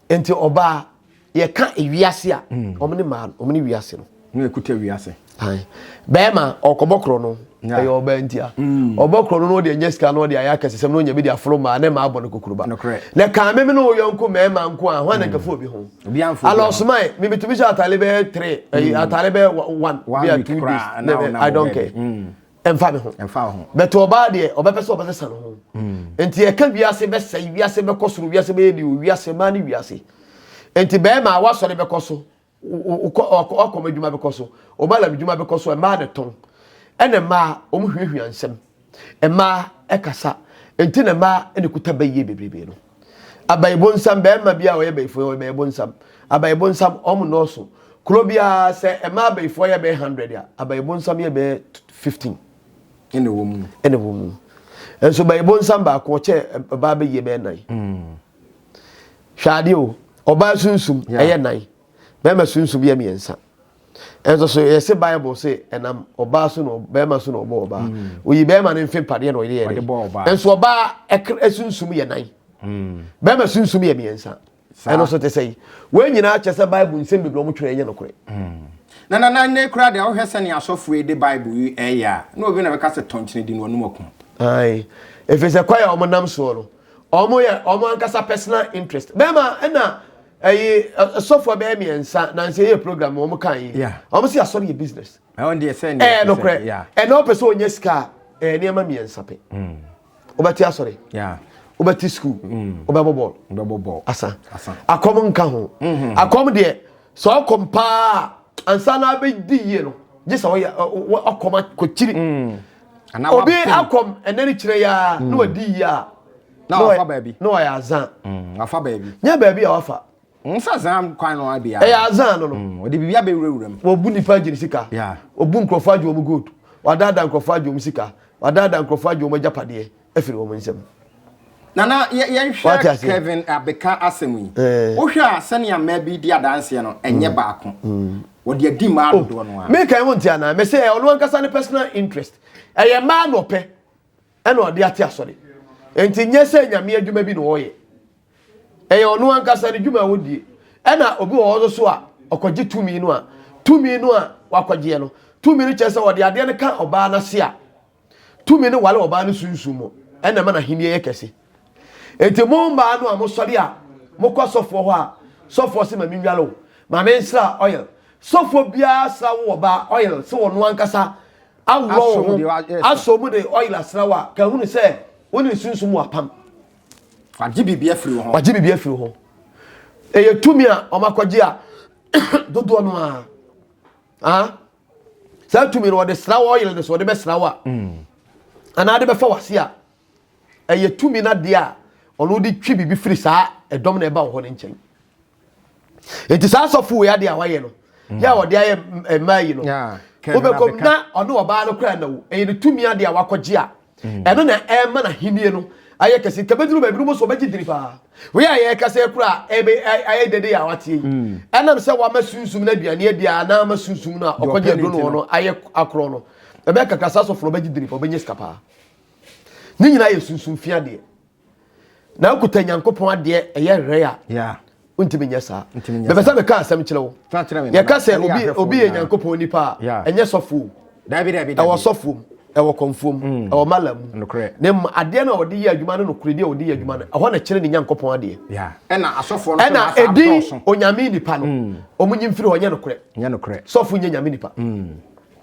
nti ɔbaa Yɛka ewiase a, wɔn ne maa wɔn ne wiase no. Na ɛkuta wiase. Bɛrima ɔkɔbɔ korɔ no ɛyɛ ɔbaa ntia. Mm. Ɔbɔ korɔ no na ɔde anya sika na ɔde ayɛ akɛsesɛm na ɔnya bi de aforo maa ne maa bɔ no kukuruba. Na kaa meme ne wo yɔnko mmarima nko a hwan na nkafu obi ho. Alɔsomae mebɛtumi hyɛ atare bɛyɛ three mm. atare bɛyɛ one bia two days I don't care. Mm. ɛmfa me ho ɛmfa ho but ɔbaa deɛ ɔbɛpɛ sɛ ɔbɛsesa ne ho nti ɛka wiase bɛsɛe wiase bɛkɔ soro wiase bɛyɛ ni o wiase maa ne wiase nti bɛrima a wasɔre bɛkɔ so ɔkɔm adwuma bɛkɔ so ɔma lam adwuma bɛkɔ so ɛmaa ne tɔn ɛna mmaa wɔn hwiahwia nsɛm mmaa ɛkasa nti na mmaa ɛna kuta bɛyie bebrebe no. Abayibonsam, bɛɛma bi a ɔyɛ bayifoɔ yɛ ɔyɛbayibonsam. Abayibonsam, ɔmo nɔɔso. Kuro biara sɛ ɛmaa abayifoɔ yɛ bɛɛ hundred a, abayibonsam yɛ bɛɛ fifteen. Ɛna ɛwɔ mu. Ɛna ɛwɔ mu. Nso bayibonsam baako ɔkyɛ ɔbaa bɛyie bɛɛ nan. Mm. Hwɛ adeɛ o, ɔbaa sunsum yeah. ɛyɛ nan, bɛɛma sunsum yɛ mmiɛnsa. ɛnso so yɛse bible se ɛnam ɔbaa so na bɛrima so na ɔbɔ ɔbaa mm. oyi bɛrima no mfe mpadeɛ na ɔyere yɛde ɛnso ɔbaa ɛsunsum yɛ nan mm. bɛrima sunsum yɛ mmiɛnsa ɛno so te sɛ yi wɔn nyinaa kyɛ sɛ bible nsɛm bebree wɔn twerɛ ɛnyɛ nokorɛ mm. na na na ne kura deɛ wohwɛ sɛ ne asɔfoɔ yi de bible yi ɛyɛ a na obi na bɛka sɛ tɔnkyene di no ɔnum ɔko ɛfiri sɛ kwae a wɔnam soɔ no ɔmo yɛ ɔmo ankasa personal interest bɛrima ɛna ɛyi ɛsɔfoɔ bɛyɛ mmiɛnsa nansi ɛyɛ program ɔmo kan yi ɔmo si asɔre yɛ business ɛɛ nokorɛ ɛna ɔpɛ sɛ ɔnyɛ sika ɛɛ nneɛma mmiɛnsa pɛ ɔbɛte asɔre ɔbɛte sukuu ɔbɛbɔ bɔɔl asa akɔm nka ho mm-hmm. akɔm deɛ sɛ ɔkɔm paa ansa na abɛdi yie no gye sɛ ɔyɛ ɔkɔm akɔkyiri. Mm. obi akɔm ɛnɛ ne kyerɛ yɛ a na wadi yie a na wafa baabi na wayɛ azan mm, wafa baabi nyɛ baabi a wafa mm, nsa zan kwan no abia ɛyɛ azan no no mm, ɔde biribi abɛwurawura mu wɔbu nipa agye ne sika wɔbu nkurɔfoɔ agye wɔn gold wadaadaa nkurɔfoɔ agye wɔn sika wadaadaa nkurɔfoɔ agye wɔn agyapadeɛ afiri wɔn nsam. Nana yɛnhwɛ Kevin Abeka asɛm yi. Wohwɛ a sɛnea mmaa bi di adanseɛ no ɛnyɛ baako. Wɔde adi mmaa dodoɔ no ara. Meka ɛho nti anaa mese ɛyɛ ɔno ankasa ne personal interest. Ɛyɛ mmaa na ɔpɛ ɛna ɔde ate asɔre. Nti nyɛ sɛ nyame adwuma bi na ɔyɛ. Ɛyɛ ɔno ankasa ne dwuma a ɔdie. Ɛna obi wɔ hɔ so a ɔkɔgye tumi no a tumi no a wakɔgyeɛ no tumi no kyerɛ sɛ ɔde adeɛ no ka ɔbaa no ase a Tumi no ware ɔbaa no sunsum mu, ɛna ɛma n'ahenni yɛ kɛse. Enti mo mmaa no a mosɔre a mokɔ sɔfoɔ hɔ a, sɔfoɔ se ma menware wo, ma mensra oil. Sɔfoɔ biara sra wo ɔbaa oil se ɔno ankasa aworɔ wo ho, asɔ mu de oil asra wo a, ka hunu sɛ wo ne ne sunsum wɔ apam. Wagye biribi afiri wo ho. Wagye biribi afiri wo ho. Ɛyɛ tumi a wɔakɔgye a dodoɔ no ara. Ah? saa tumi no wɔde sra wo ɔyere no so wɔde bɛsra wo a mm. anaa de bɛfa wase a ɛyɛ tumi no adeɛ a ɔno de twi biribi firi saa ɛdɔm na ɛba wɔ hɔ no nkyɛn nti saa asɔfo wei adeɛ a wayɛ no yɛ a wɔde ayɛ mmaa yi no wobɛkɔm na ɔne ɔbaa no koraa na wo ɛyɛ ne tumi adeɛ a wakɔgye a ɛno na ɛma n'ahenni no ayɛ kɛse nka bɛduru baabi no mu so ɔbɛgye dini paa wei a yɛka sɛ kora a ɛbɛ ayɛ dede a wateɛ yi ɛnam sɛ wama sunsum no aduane adi a na ama sunsum no a ɔkɔgye aduro no no ayɛ akorɔ no ɛbɛyɛ kakra saa sɔfo no ɔbɛgye dini paa ɔbɛnya sika paa ne nyinaa yɛ sunsum fi adeɛ na akuta nyankopɔn adeɛ ɛyɛ rɛ a wontumi nyɛ saa mepɛ sɛ meka asɛm kyerɛ wo yɛka sɛ obi yɛ nyankopɔn nipa a ɛnyɛ sɔfoɔ ɛwɔ sɔfoɔ mu ɛwɔ kɔmfoɔ mu mm. ɛwɔ mala mu ne mu adeɛ no a wɔde yɛ adwuma no nokorɛ deɛ wɔde yɛ adwuma no mm. ɛhɔ na kyerɛ ne nyankopɔn adeɛ ɛna asɔfoɔ no ɛna ɛdin onyame nipa no wɔn mm. nyimfiri hɔ nyɛ nokorɛ sɔfo nyɛ nyame nipa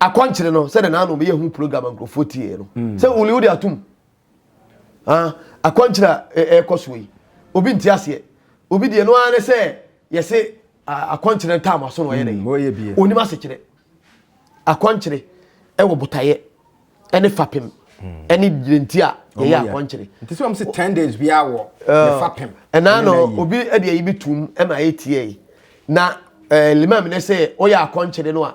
Akwankyere no sɛdeɛ naano meyɛ ho program a nkurɔfoɔ tieɛ no mm. sɛ wuli wode atom ah, akwankyere a ɛrekɔ soɔ yi obi nti aseɛ obi deɛ no ara ne sɛ yɛse akwankyere no taama so na ɔyɛ mm, dɛ onim asekyerɛ akwankyere ɛwɔ botaeɛ ɛne fapem mm. ɛne gyinanti a yɛyɛ akwankyere nti sɛ wɔm se 10 days biaa wɔ ne fapem ɛnaa no obi ɛde ayi bi tom ɛma ɛyɛ tiɛ yi na limam ne sɛ ɔyɛ akwankyere no a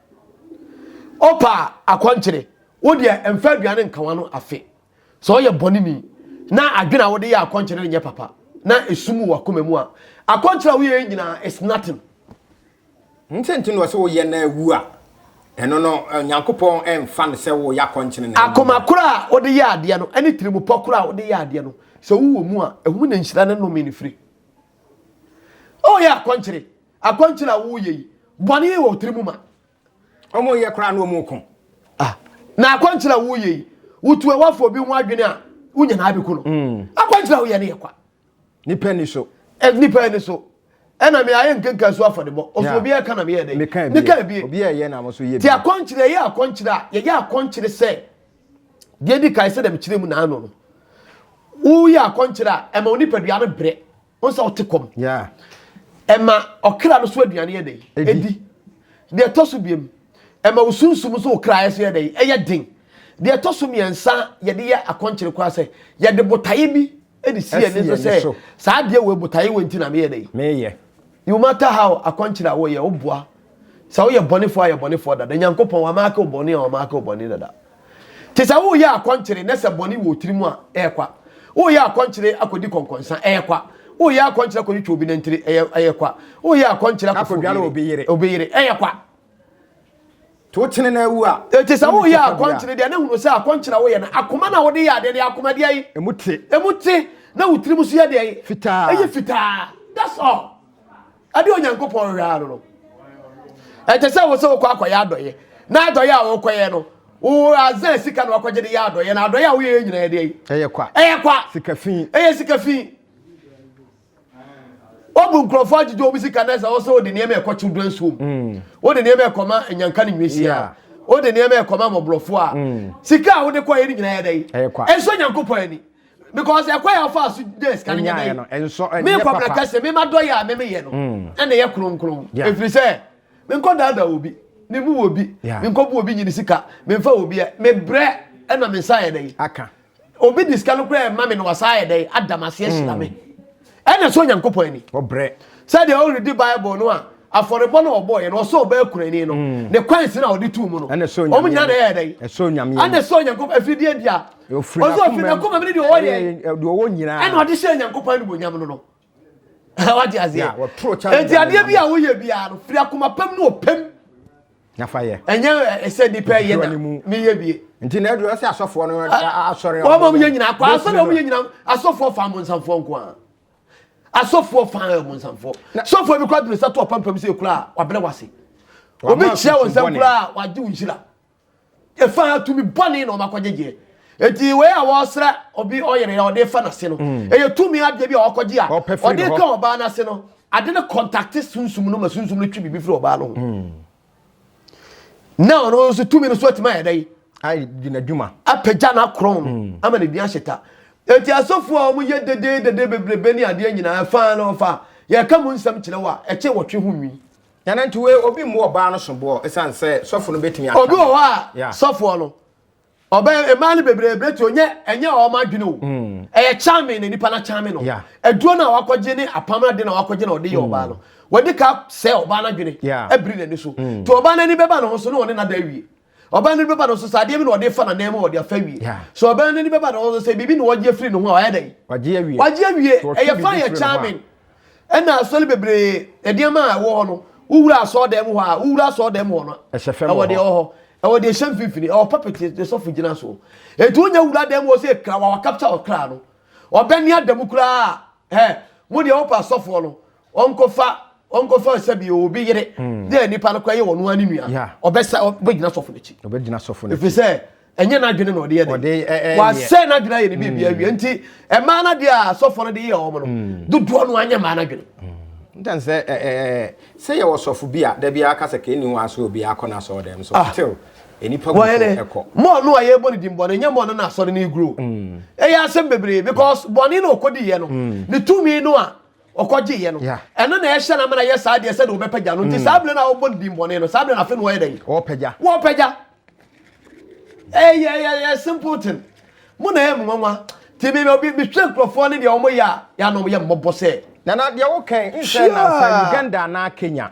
Ɔpa akɔnkyere, wo deɛ mfa aduane nka w'ano afe. Sɛ ɔyɛ bɔne ni na adwene a wode yɛ akɔnkyere nyɛ papa na esum wɔ akoma mu a, akɔnkyere a woyɛ nyinaa is nothing. Nti nti na ɔsɛ woyɛ na awu a, ɛno no Nyankopɔn mfa no sɛ woyɛ akɔnkyere na awu. Akoma koro a wode yɛ adeɛ no ne tirimupɔ koro a wode yɛ adeɛ no, sɛ wowɔ mu a, ɛho na nhyira ne nnome no firi. Ɔyɛ akɔnkyere Akwankyerɛ a woreyɛ yi, bɔne wɔ wo tiri mu ma. Wɔnyɛ koraa na wɔko. Ah, na akwankyerɛ a woreyɛ yi, wotu ɛwafo obi ho adwene a, wonya na abɛku no. Mm. Akwankyerɛ a woyɛ no yɛ kwa. Nipa ni so. Eh, nipa ni so. ɛna me ayɛ nkenka so afɔdebɔ ɔsɛ obi ɛka na meyɛ dɛ meka ebie obi ɛyɛ na mo so yɛ bi ti akɔnkyerɛ yɛ akɔnkyerɛ a yɛyɛ akɔnkyerɛ sɛ deɛ di kan sɛ dɛm kyerɛ mu na ano no woyɛ akɔnkyerɛ a ɛma onipadua no brɛ wọn sɛ ɔte kɔm ɛma ɔkra no so aduane yɛ dɛn ɛdi deɛ ɛtɔ so biam ɛma wo sunsum so wo kraeɛ so yɛ dɛn ɛyɛ den deɛ ɛtɔ so mmiɛnsa yɛde yɛ akɔnkyere koraa sɛ yɛde botaeɛ bi de si yɛn nso sɛ saa adeɛ wɔ botaeɛ wɔ nti na meyɛ dɛn meyɛ no matter how akɔnkyere a wɔyɛ woboa sɛ woyɛ bɔnefoɔ ayɛ bɔnefoɔ dada nyankopɔn wamaake wo bɔne a wamaake wo bɔne dada Te sɛ woreyɛ akɔnkyere na sɛ bɔne wɔ wo tirim a, ɛrekwa. Woreyɛ akɔnkyere akɔdi kɔnkɔnsa, ɛrekwa. Woreyɛ akɔnkyere akɔtwitwa obi nantiri, ɛyɛ, ɛrekwa. Woreyɛ akɔnkyere akɔfa obi Akɔdware yere, obi yere. obi yere, ɛrekwa. To wo kyene na awu a, Enti sɛ wonni woreyɛ sika biara. akɔnkyere deɛ, na hunu sɛ akɔnkyere a woyɛ no, akoma na wode yɛ adeɛ no, ɛyɛ akoma deɛ yi. Emu te. Emu te, na wo tirim nso yɛ deɛ yi. Fitaa. Ɛyɛ fitaa. That's all. Ɛde Onyankopɔn hwɛ ano no, ɛte sɛ wo sɛ wokɔ akɔyɛ adɔyɛ na adɔyɛ a wokɔyɛ no wo azan sika na wakɔgye de yɛ adɔyɛ na adɔyɛ a woyɛ nyina yɛ deɛ ɛyɛ kwa ɛyɛ kwa sika fi ɛyɛ sika fi wobu nkurɔfoɔ agyegye wɔn sika na ɛsɛ wɔsɛ wode nneɛma ɛkɔ children school mm. wode nneɛma ɛkɔma nyanka ne nwesia wode nneɛma ɛkɔma mmɔborɔfoɔ a mm. sika a wode kɔyɛ no nyina yɛ dɛn ɛsɔ nyankopɔn ani because ɛkwan a ɔfa so nya sika no nyɛ no ɛnsɔ ɛnyɛ papa me nkɔmna kɛse me ma dɔ yɛ a me meyɛ no mm. ɛna ɛyɛ kronkron ɛfiri sɛ me nkɔ daadaa wɔ bi me mu wɔ bi me nkɔ bu wɔ bi nyini sika me nfa wɔ bi ɛ me brɛ ɛna me nsa yɛ dɛ aka obi di sika no koraa ɛma me na wasa yɛ dɛ adam aseɛ hyira me mm. Ɛna ɛsɔ Onyankopɔn ani. Ɔbrɛ. Sɛdeɛ woredi Bible no a, afɔrebɔ no a ɔbɔɔeɛ no, ɔsɔɔ bɛɛ kunani no, mm. ne kwan si no a ɔde tuu mu no. Ɛna ɛsɔ Onyame. Wɔn nyinaa na ɛyɛ dɛ. Ɛsɔ Onyame. Ɛna ɛsɔ Onyankopɔn afiridie bia. Ofiri n'akoma. Ɔsɔ ofiri n'akoma ne deɛ ɔwɔ yɛ. Deɛ ɔwɔ nyinaa. Ɛna ɔde hyɛ Onyankopɔn animuonyam no no. Wate aseɛ. Eti adeɛ bi a woyɛ biara no, firi akoma pam ne ɔpam. na fa yɛ. ɛnyɛ ɛsɛ nipa yɛ na ne yɛ wie. nti na ɛduru ɔsɛ asɔfoɔ no asɔre. wɔn a wɔn yɛ nyinaa kɔ asɔre wɔn yɛ nyinaa asɔfoɔ fa abonsamfoɔ nko ara asɔfoɔ fa abonsamfoɔ sɔfoɔ bi kura dunu sɛ to ɔpampam sɛ ekura a wabere wase obi kyia wɔn nsɛm kura a wagye wɔn nhyira. Ɛfa tumi bɔne na wɔakɔgyegyeɛ. Enti wei a wɔsra obi ɔyere a ɔde fa n'ase no, mm. ɛyɛ tumi adeɛ bi a wɔakɔgye a ɔde ka ɔbaa n'ase no, ade no kɔntakte sunsum no ma sunsum no twe biribi firi ɔbaa no ho. Mm. Na ɔno nso tumi no so atumi ayɛ dɛ. Ayɛ n'adwuma. Apagya n'akorɔn no mm. ama n'ani ahye ta. Enti asɔfoɔ a wɔyɛ dededede bebrebe ne adeɛ nyinaa fa no fa yɛka mu nsɛm kyerɛ wo a ɛkyɛ wɔtwe ho nwi. Nyanantuwe, Obi mmɔ ɔbaa no soboɔ ɛsiane sɛ sɔfo no bɛtumi aka no. Obi wɔ hɔ a, sɔfoɔ no, ɔbɛ, mmaa no bebree berɛ tuo, nyɛ, ɛnyɛ wɔn adwene o. Ɛyɛ charming na nipa no akyame no. Aduro no a wakɔgye ne apam no ade na wakɔgye na ɔde yɛ ɔbaa no. Wadi ka sɛe ɔbaa no adwene, abiri n'ani so. Nti ɔbaa no ani bɛba ne ho so na ɔne no ada awie. ɔbaa no ani bɛba no so sɛ adeɛ bi na ɔde fa n'anan mu a ɔde afa awie Yeah. so ɔbaa no ani bɛba no so sɛ biribi na ɔgye afiri ne ho a ɔyɛ dɛn wagye awie wagye awie So ɔtwe ɛyɛ biribi fan yɛ firi ne ho a- charming ɛna asɔre bebree nneɛma a ɛwɔ hɔ no wowura asɔɔdan mu hɔ a wowura asɔɔdan mu hɔ no Ɛhyɛ fam ɛwɔ wɔ deɛ hɔ. ɛwɔ hɔ ɛwɔ deɛ ɛhyɛ mfimfini ɛwɔ puppet yɛ- deɛ sɔfo gyina so ɛti wonya wura dan mu hɔ sɛ kra wa wakapta ɔkra no ɔbɛne ada mu koraa ɛ mo deɛ wopɛ asɔfoɔ no wɔnkɔfa wɔnkɔfa sɛ bi obi yere hmm. na nipa no kɔ yɛ wɔn noa ne nua ɔbɛsa ɔbɛgyina sɔfo n'akyi ɔbɛgyina sɔfo n'akyi efisɛ ɛnyɛ n'adwene na ɔde yɛ de wasɛ n'adwene ayɛ ne bi bi awie hmm. nti ɛmaa n'adeɛ a sɔfo no de yɛ wɔn no hmm. dodoɔ no anyɛ maa n'adwene. ntan sɛ ɛɛ sɛ yɛ wɔ sɔfo bi a dabi aka sɛ kɛni wɔn aso obi akɔ na asɔrɔ dɛm so ah. till nipa gu so ɛkɔ. mɔɔ no a yɛbɔ ne din bɔne nyɛ mɔɔ no na asɔre ne guro ɛyɛ asɛm bebree because bɔne na ɔkɔdi yɛ no ne tumi no a ɔkɔgyeeɛ no Yeah. ɛno na ɛhyɛ no ama no ayɛ saa deɛ sɛdeɛ wɔbɛpagya no nti saa berɛ no a wɔbɔ no din bɔne no saa berɛ no afei na wɔyɛ dɛn Ɔpagya. wɔpagya ɛyɛ ɛyɛ ɛyɛ simple thing mo na ɛyɛ mo nwanwa nti me- me- me- mehwɛ nkurɔfoɔ ne deɛ wɔyɛ a yɛanom yɛ mmɔbɔ sɛ Nana deɛ wokan nsɛ Sure. nansa Uganda anaa Kenya.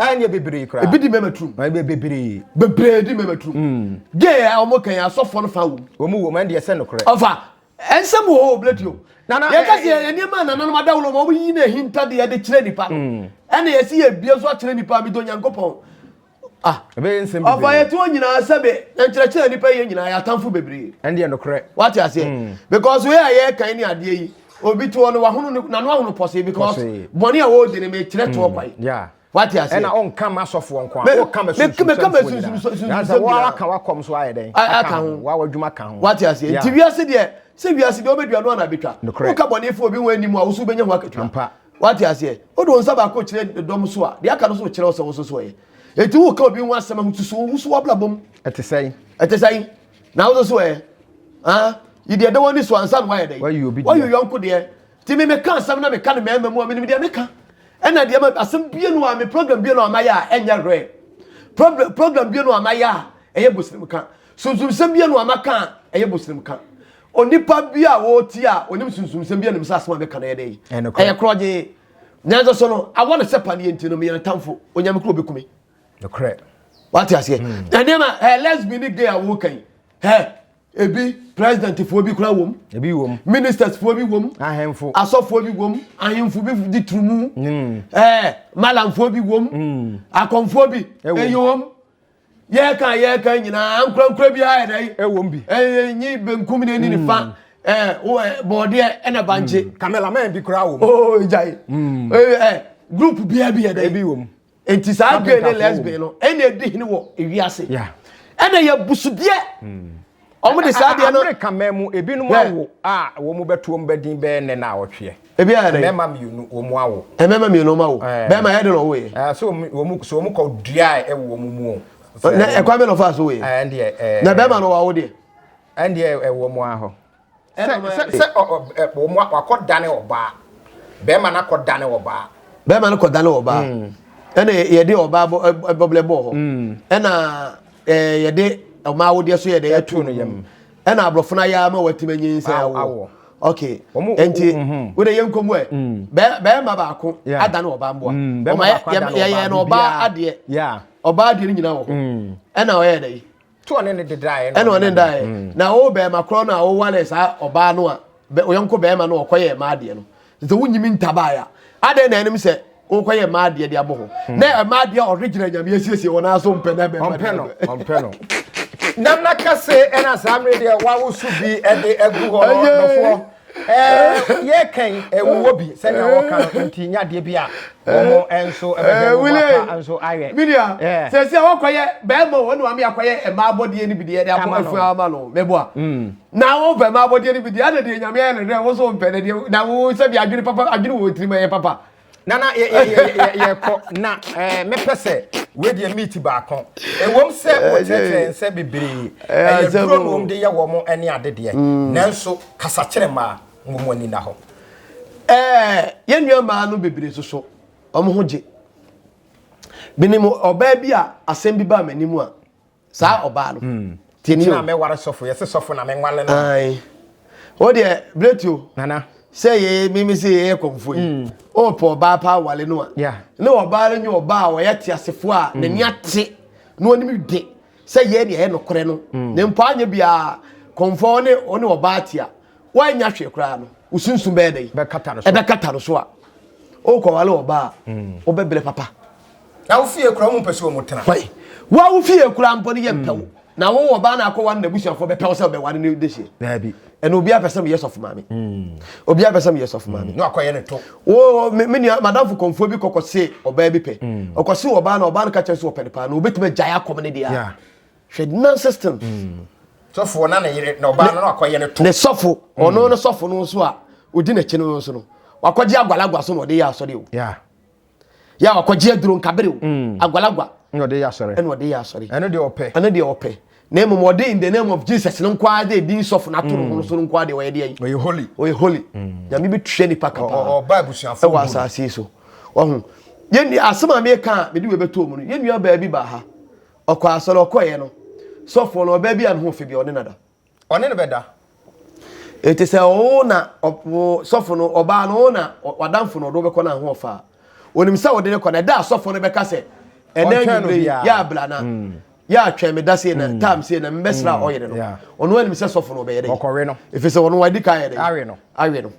Ah, nyɛ bebree koraa. Ebi di mmarima turum. Ɛn bɛ bebree. Bebree di mmarima turum. Mm. Gay a wɔn kan asɔfoɔ no fa wɔ mu. Wɔn wɔ mu ɛn deɛ sɛ no korɛ. Ɔfa ɛnsɛm wɔ hɔ obileti o. Nana yɛ kasi yɛ nneɛma nananom adawolo ma wɔn yi na ehinta de yɛde kyerɛ nipa no. Mm. Ɛna yɛ si yɛ bie nso akyerɛ nipa mi do nyankopɔn. Ah. Ebe yɛ nsɛm bebree. Ɔfa yɛ ti wɔn nyinaa sɛbe na nkyerɛkyerɛ nipa yɛ nyinaa yɛ atamfo bebree. Ɛn deɛ no korɛ. Wate aseɛ. Mm. Because wei a yɛ kan ne adeɛ yi obi toɔ no wahono ne nano ahono pɔsee because bɔne a wɔredi no mekyerɛ toɔ kwan hmm. wate ase ɛna ɔnka ma asɔfoɔ nko a ɔka ma sunsunsunsunsunsunwaka wakɔm so ayɛ dɛn aka ho wawadwuma ka ho wate ase nti wiase deɛ sɛ wiase deɛ wobɛdua no ana bɛtwa woka bɔnefoɔ obi ho anim a wo so wobɛnya ho akatua wate aseɛ wode wo nsa baako kyerɛ dɔm so a deɛ aka no so wokyerɛ wo sɛ wo so so ɛyɛ ɛti woka obi ho asɛm ho susu wo so wabrabɔm ɛte sɛn ɛte sɛn Na wo nso ɛ ah, yi deɛ da w'ani so ansa na woayɛ dɛn Wayi obi deɛ. wayi yɔnko deɛ nti me meka asɛm na meka no mmarima mu a menim deɛ meka ɛna deɛ ma asɛm bie no a me program bie no a mayɛ a ɛnyɛ hwɛ Prob- program bie no a mayɛ a ɛyɛ bosrem ka sunsumsɛm bie no a maka a ɛyɛ bosrem ka onipa bi a wɔretie a ɔnim sunsumsɛm bi anim sɛ asɛm a meka no ɛyɛ dɛn Ɛyɛ nokorɛ. ɛyɛ korɔgyee nanso so no awɔ no sɛ paneɛ nti no meyɛ no tamfo onyame kuro bɛkume nokorɛ wate aseɛ hmm. na nneɛma ɛ lesbi ne gay a woka yi ɛ ebi president foɔ bi kora wɔm ebi wɔm ministers foɔ bi wɔm ahemfo asɔfoɔ bi wɔm ahemfo bi di turumu hmm. ɛ malamfoɔ bi wɔm hmm. akɔmfoɔ bi ɛyɛ wɔm yɛka yɛka nyinaa nkorankora bi ayɛ dɛ ɛwɔm bi ɛyɛ nyi benkum ne ni ne fa ɛɛ bɔɔdeɛ ɛna bankye cameraman bi kora wɔm ooo gyae ɛɛ group biara bi yɛ dɛ ebi wɔm. nti saa gay ne lesbian no ɛna edi hene wɔ ewiase ɛna yɛ busudeɛ wɔn de saa deɛ no amerika mɛn mu ebinom awo a wɔn bɛto wɔn bɛdin bɛyɛ nne na ɔtweɛ ebi ayɛ dɛ mɛma mmienu wɔn awo mɛma mmienu wɔn awo bɛma yɛ de na ɔwɔ yɛ so wɔn so wɔn kɔ dua a ɛwɔ wɔn mu o na ɛkwan bɛ na ɔfa so wɔ yɛ na bɛma na ɔwɔ awo deɛ ɛndeɛ ɛwɔ wɔn ahɔ. Sɛ wakɔ dane ɔbaa. Bɛrima no akɔ dane ɔbaa. Bɛrima no kɔ dane ɔbaa. Ɛna yɛde ɔbaa bɔblɛ bɔɔ hɔ. Ɛna yɛde ɔmaa awodeɛ so yɛ dɛ yɛtu no yam. Ɛna aborɔfo no ayɛ ama wɔatim anyin sɛ awo. Ok. Nti wode yɛn nkɔmu ɛ. Bɛrima baako adane ɔbaa mboa. Yɛyɛ no ɔbaa adeɛ. Ɔbaa adeɛ no nyinaa wɔ hɔ. Ɛna ɔyɛ dɛ. to ɔne ne de daeɛ ɛna ɔne ne daeɛ mm. na wo bɛrima korɔ no a wowale saa ɔbaa no a ɔyɔnko bɛrima no ɔkɔyɛ mmaa adeɛ no sɛ wonyimi ntabaeɛ a adɛn na ɛnim sɛ wokɔyɛ mmaa adeɛ de abɔ hɔ mm. na ɛma adeɛ a ɔde gyina nyame asiesie wɔn ara so mpɛ na bɛrima ɔmpɛ no ɔmpɛ no nam na kɛse ɛna saa mmere deɛ wawoso bi ɛde agu hɔ no dɔfoɔ Ɛɛ, yɛka yi, ɛwowɔ bi sɛnea wɔka no nti, nya adeɛ bi a wɔn nso ɛbɛbɛ wɔn afa nso ayɛ. Midia, sɛsi a wɔkɔyɛ bɛrima wɔn ne wɔn akɔyɛ mmaa abɔdeɛ no bi deɛ de abɔ afu ama no mɛboa. Na wɔn pɛ mmaa abɔdeɛ no bi deɛ ɛna deɛ nyame ayɛ no dɛ wɔn nso wɔn pɛ na deɛ na wɔn sɛbi adwene papa adwene wɔn tirim ɛyɛ papa. Nana yɛ yɛ yɛ yɛ yɛ kɔ na ɛɛ eh, mepɛ sɛ wedeɛ meat baako ɛwom sɛ wɔkyerɛkyerɛ nsɛ bebree ɛyɛ duro na wɔn de yɛ wɔn ɛne adedeɛ mm. nanso kasakyerɛ mmaa wɔn ani na hɔ. ɛɛ yɛn nua mmaa no bebree soso wɔn ho gye binom ɔbaa bi a asɛm bi baa m'anim a. saa ɔbaa no tini na mɛware sɔfo yɛse sɔfo na menwale no ae o deɛ bretio nana sɛ yɛ mimi sɛ yɛyɛ kɔmfo yi mm. o pɔ ɔbaa paa wale no a ne ɔbaa no nyɛ ɔbaa a ɔyɛ te asefoɔ a mm. n'ani ate na ɔnim de sɛ yɛ ne ɛyɛ nokorɛ no mm. ne mpo anyɛ biara kɔmfo ɔne ɔne ɔbaa te a woanya hwee koraa no wo sunsum bɛyɛ dɛ ɛbɛkata no so a wokɔwale ɔbaa a wobɛbrɛ papa Na wo fie kura wɔn mpɛ sɛ wɔn tena. Wai wa wo fie kura mpo no yɛ mpɛ wo. Na wo wɔ baa na akɔ wɔn na busuafo bɛ pɛ wo sɛ ɔbɛ wɔn ne de hyɛ. Daabi. Ɛna obi apɛ sɛ mo yɛ sɔfo maame. Obi apɛ sɛ mo yɛ sɔfo maame. Na akɔ yɛ ne to. Wo me me nua madamfo kɔnfoɔ bi kɔkɔ se ɔbaa bi pɛ. Ɔkɔ se ɔbaa na ɔbaa no kakyɛ so ɔpɛ ne paa na obe tuma gyae akɔm ne de a. Hwɛ nonsense things. Sɔfo ɔna ne yere na ɔbaa no na akɔ yɛ ne to. Ne sɔfo ɔno ne sɔfo no nso a odi na kyi no nso no wakɔ gye agwalagwa so na ɔde yɛ asɔre o. Yeah. yɛ a wakɔgye aduro nkabere o mm. agwalagwa ɛna ɔde yɛ asɔre ɛna ɔde yɛ asɔre ɛno deɛ ɔpɛ ɛno deɛ ɔpɛ na mmom ɔde in the name of jesus no nko ara de edin sɔfo na ato ne ho mm. so no nko ara de ɔyɛ de ayi ɔyɛ holy ɔyɛ holy mm. nyame bi tua nipa kapa ɔba abusuafo ɛwɔ asase so ɔho yɛn nua asɛm a meka a mede wɔ ɛbɛtɔ mu no yɛn nua baabi baa ha ɔkɔ asɔre ɔkɔɛ no sɔfo no ɔbaa bi a ne ho fɛ bi ɔne nada ɔne no bɛda. Enti sɛ wo na sɔfo no, ɔbaa no wo na w'adamfo no ɔde wobɛkɔ no ahoɔfa a, onim sɛ wode no kɔ na ɛda a sɔfo no bɛka sɛ ɛnɛ anwummere yi yɛ abla na yɛ atwɛn me da sei na mm. tam sei na mbɛsra mm. ɔyere no ɔno anim sɛ sɔfo no ɔbɛyɛ dɛ ɛfiri sɛ ɔno wadi ka yɛ dɛ awe no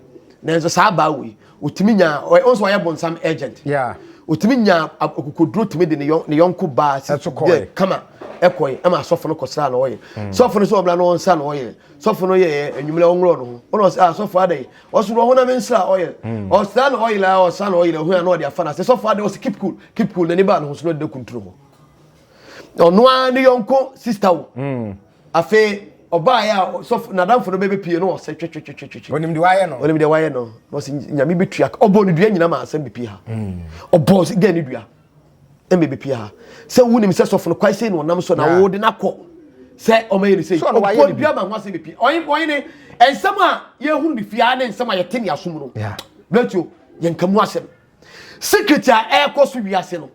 nanso saa baa wei Otumi nya ɔyɛ ɔnso ɔyɛ bonsam agent. Yeah. Otumi nya akokoduro tumi de ne yɔn ne yɔnko baa si yɛ kama ɛkɔɛ ɛma asɔfo no kɔsra na ɔyɛ. Mm. Sɔfo no sɛ ɔbla no ɔnsa na ɔyɛ. Sɔfo no yɛ enyimlɛ ɔnwulɔ no ho. Ɔno ɔsɛ ah sɔfo adɛ. Ɔso no ɔhona me nsra ɔyɛ. Mm. Ɔsra na ɔyɛ la ɔsa na ɔyɛ hu ano ɔde afa na sɛ sɔfo adɛ ɔsɛ keep cool keep cool na ne ba no ho so no de kunturu ho. Ɔno a ne yɔnko sister wo. Mm. Afei ɔbaeɛ a sɔfo n'adamfo no bɛbɛpie no ɔsɛ twetwetwetwetwe. Onim deɛ wayɛ no. Onim deɛ wayɛ no. Na ɔsɛ nyame bɛtua ka. Ɔbɔɔ ne dua nyina ma asɛm bɛpie ha. Hmm. Ɔbɔɔ sɛ dɛn ne dua. Ɛmɛ bɛpie ha. Sɛ wonim sɛ sɔfo no kwae sei na ɔnam so na wode no akɔ. Sɛ ɔmayɛ ne sei. Ɔbɔɔ ne dua ma ho asɛm bɛpie. Ɔyɛ ne nsɛm a yɛhunu ne fie ha ne nsɛm a yɛte ne asom no. Blatio, yɛnka mu asɛm. secret a ɛrekɔ so wiase no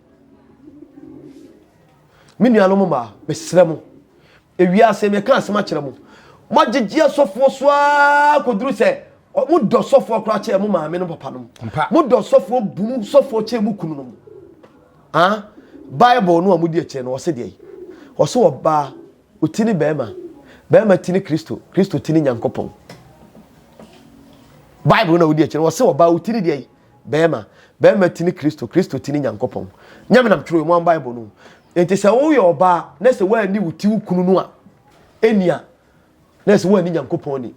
me nuanom mmaa mesrɛ mo ewiase meka asɛm akyerɛ mo moagyegye asɔfoɔ so ara kɔduru sɛ modɔ sɔfoɔ koraa kyɛ mo maame no papa nom modɔ sɔfoɔ bunu sɔfoɔ kyɛ mo kunu nom ah bible no a modi akyerɛ no ɔse deɛ ɔse ɔbaa ɔti ne bɛrima bɛrima ti ne kristo kristo ti ne nyankopɔn bible no a wodi akyerɛ no ɔse ɔbaa ɔti ne deɛ Bɛɛma, bɛɛma ti ne Kristo, Kristo ti ne Nyankopɔn. Nyame nam twerɛ wɔn Bible no. Nti sɛ woyɛ ɔbaa na sɛ woanni wo ti wo kunu no a, ɛni a, na sɛ woanni Nyankopɔn ni.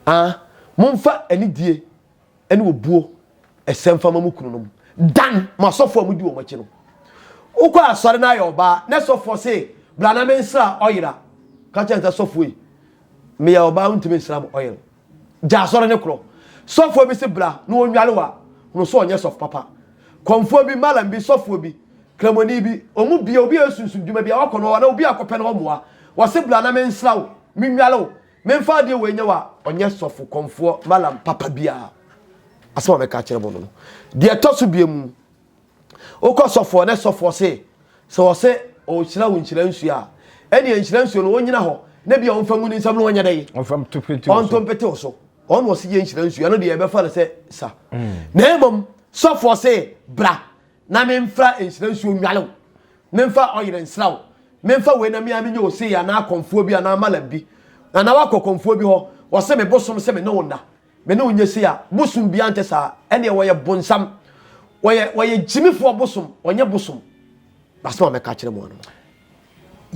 Ah, momfa anidie ne obuo ɛsɛ mfa ma mo kunu nom. Dan mo asɔfoɔ a modi wɔn akyi no. Wokɔ asɔre no ayɛ ɔbaa na sɔfoɔ se bra na mensra ɔyera. Ka kyerɛ sɛ sɔfoɔ yi, meyɛ ɔbaa wontumi nsra mo ɔyere. Gya asɔre no korɔ. Sɔfoɔ bi se bra na ɔnnware wo a, hunu sɛ ɔnyɛ sɔfo papa. Kɔmfoɔ bi, Mallam bi, sɔfoɔ bi, Kramoni bi, wɔn mu biara, obi a ɔyɛ sunsum dwuma bi a, wɔakɔ no hɔ anaa obi a akɔpɛ no hɔ mmoa, wɔse bra na mensra wo, mennware wo, memfa adeɛ wei nyɛ wo a, ɔnyɛ sɔfo, kɔmfoɔ, Mallam, papa biara. Asɛm a mɛka akyerɛ mo no no. Deɛ ɛtɔ so biemu, Wokɔ sɔfoɔ ne sɔfoɔ se sɛ ɔse ɔnhyira wo nhyira nsuo a, ɛneɛ nhyira nsuo no ɔnyina hɔ na bia ɔmfa ngu ne nsam na ɔnyɛ dɛn? Ɔnto mpete wo so. Ɔno ɔse yɛ nhyira nsuo, ɛno deɛ yɛbɛfa no sɛ sa. Na mmom sɔfoɔ se bra na memfa nhyira nsuo nnwale wo, memfa ɔyere nsra wo, memfa wei na me ara menyɛ ɔsei anaa kɔmfoɔ bi anaa malam bi. Anaa woakɔ kɔmfoɔ bi hɔ, ɔse me bosom se me ne wo nna. Me ne wo nyɛ sei a, bosom biara nte saa. Ɛnneɛ wɔyɛ bonsam. Wɔyɛ, wɔyɛ gyimifoɔ bosom, wɔnyɛ bosom. Asɛm a mɛka akyerɛ mo ano no.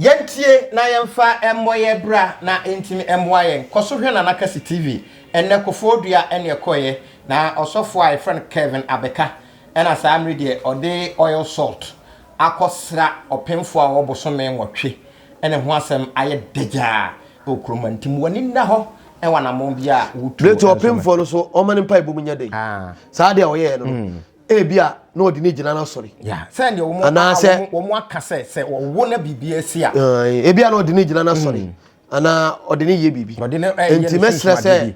Yɛntie na yɛmfa mmɔ yɛn bra na ɛntumi mmoa yɛn. Kɔ so hwɛ Nana Kasi TV. Ɛnnɛ, Kofoɔ Dua ne ɛkɔeɛ, na ɔsɔfoɔ a yɛfrɛ no Kevin abɛka. Ɛna saa mmerɛ deɛ ɔde oil salt akɔsra ɔpemfoɔ a ɔwɔ bosome nwɔtwe. ne ho asɛm ayɛ dagyaa wɔ kurom ha nti moani nna hɔ wɔ anammɔn biara a wotuo Berɛ nti nso no. ɔpemfoɔ no so ɔma ne mpaebɔ mu nya dɛ. Ah. Saa adeɛ a ɔyɛeɛ no no, ebia na ɔde no gyina n'asɔre. Yeah. Sɛ deɛ wɔn a Anaasɛ- wɔn wɔn aka sɛ sɛ wɔwo na biribi asi a, Ae, ebia na ɔde no gyina n'asɔre anaa ɔde no yɛ biribi. Ɔde no, eh, yɛ Enti no mɛsrɛ sɛ sunsuadeɛ bi.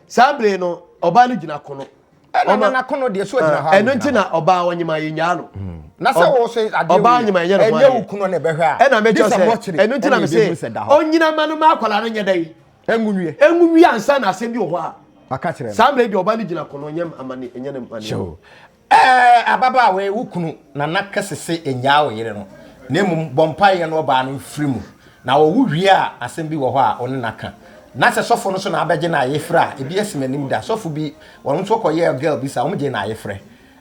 saa bere no ɔbaa no gyina kono ɛna na n'akono deɛ so agyina hɔ ɛno nti na ɔbaa ɔnyima yɛ nyaa no hmm. na sɛ wɔ sɛ adeɛ ɔbaa ɔnyima yɛ no ɛnyɛ wo kunu na ɛbɛhwɛ a ɛna mɛkyɛ sɛ ɛno nti na mɛ sɛ ɔnyina ma no ma akwadaa no nyɛ dɛ yi ɛngunwie ɛngunwie ansa na asɛm bi wɔ hɔ a saa mmerɛ deɛ ɔbaa no gyina kono nyɛ amane nyɛ ne mane Ɛɛ, ababaawa yi, wo kunu nana ka se se nnyaa wo yere no, na mmom bɔ mpaeɛ na ɔbaa no mfiri mu. Na ɔwo wie a, asɛm bi wɔ hɔ a wo ne no aka. Na sɛ sɔfo no nso na abɛgye no ayefrɛ a, ebi asi m'anim da. Sɔfo bi, wɔn nso kɔyɛɛ girl bi saa, wɔgyee no ayefrɛ.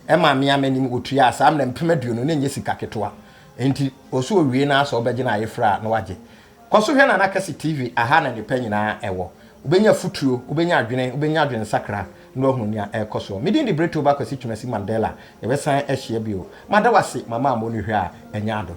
Ɛmaa me ara m'anim, wɔtuaa saa mmrɛ mpem aduonu, na ɛnyɛ sika ketewa. Enti, ɔse ɔwie no ara sɛ wobɛgye no ayefrɛ a, na wagye. Kɔ so hwɛ Nana Kɛse TV, aha na nnepa nyinaa ɛwɔ. Wobɛnya afutuo, wobɛnya adwene, wobɛnya adwensakra na woahunu nea ɛrekɔ soɔ. Me din de Bretoba Kwasi Twumasi Mandela, yɛbɛsan ahyia bio. Mada wo ase, mama ammɔ no hwɛ a ɛnyɛ ado.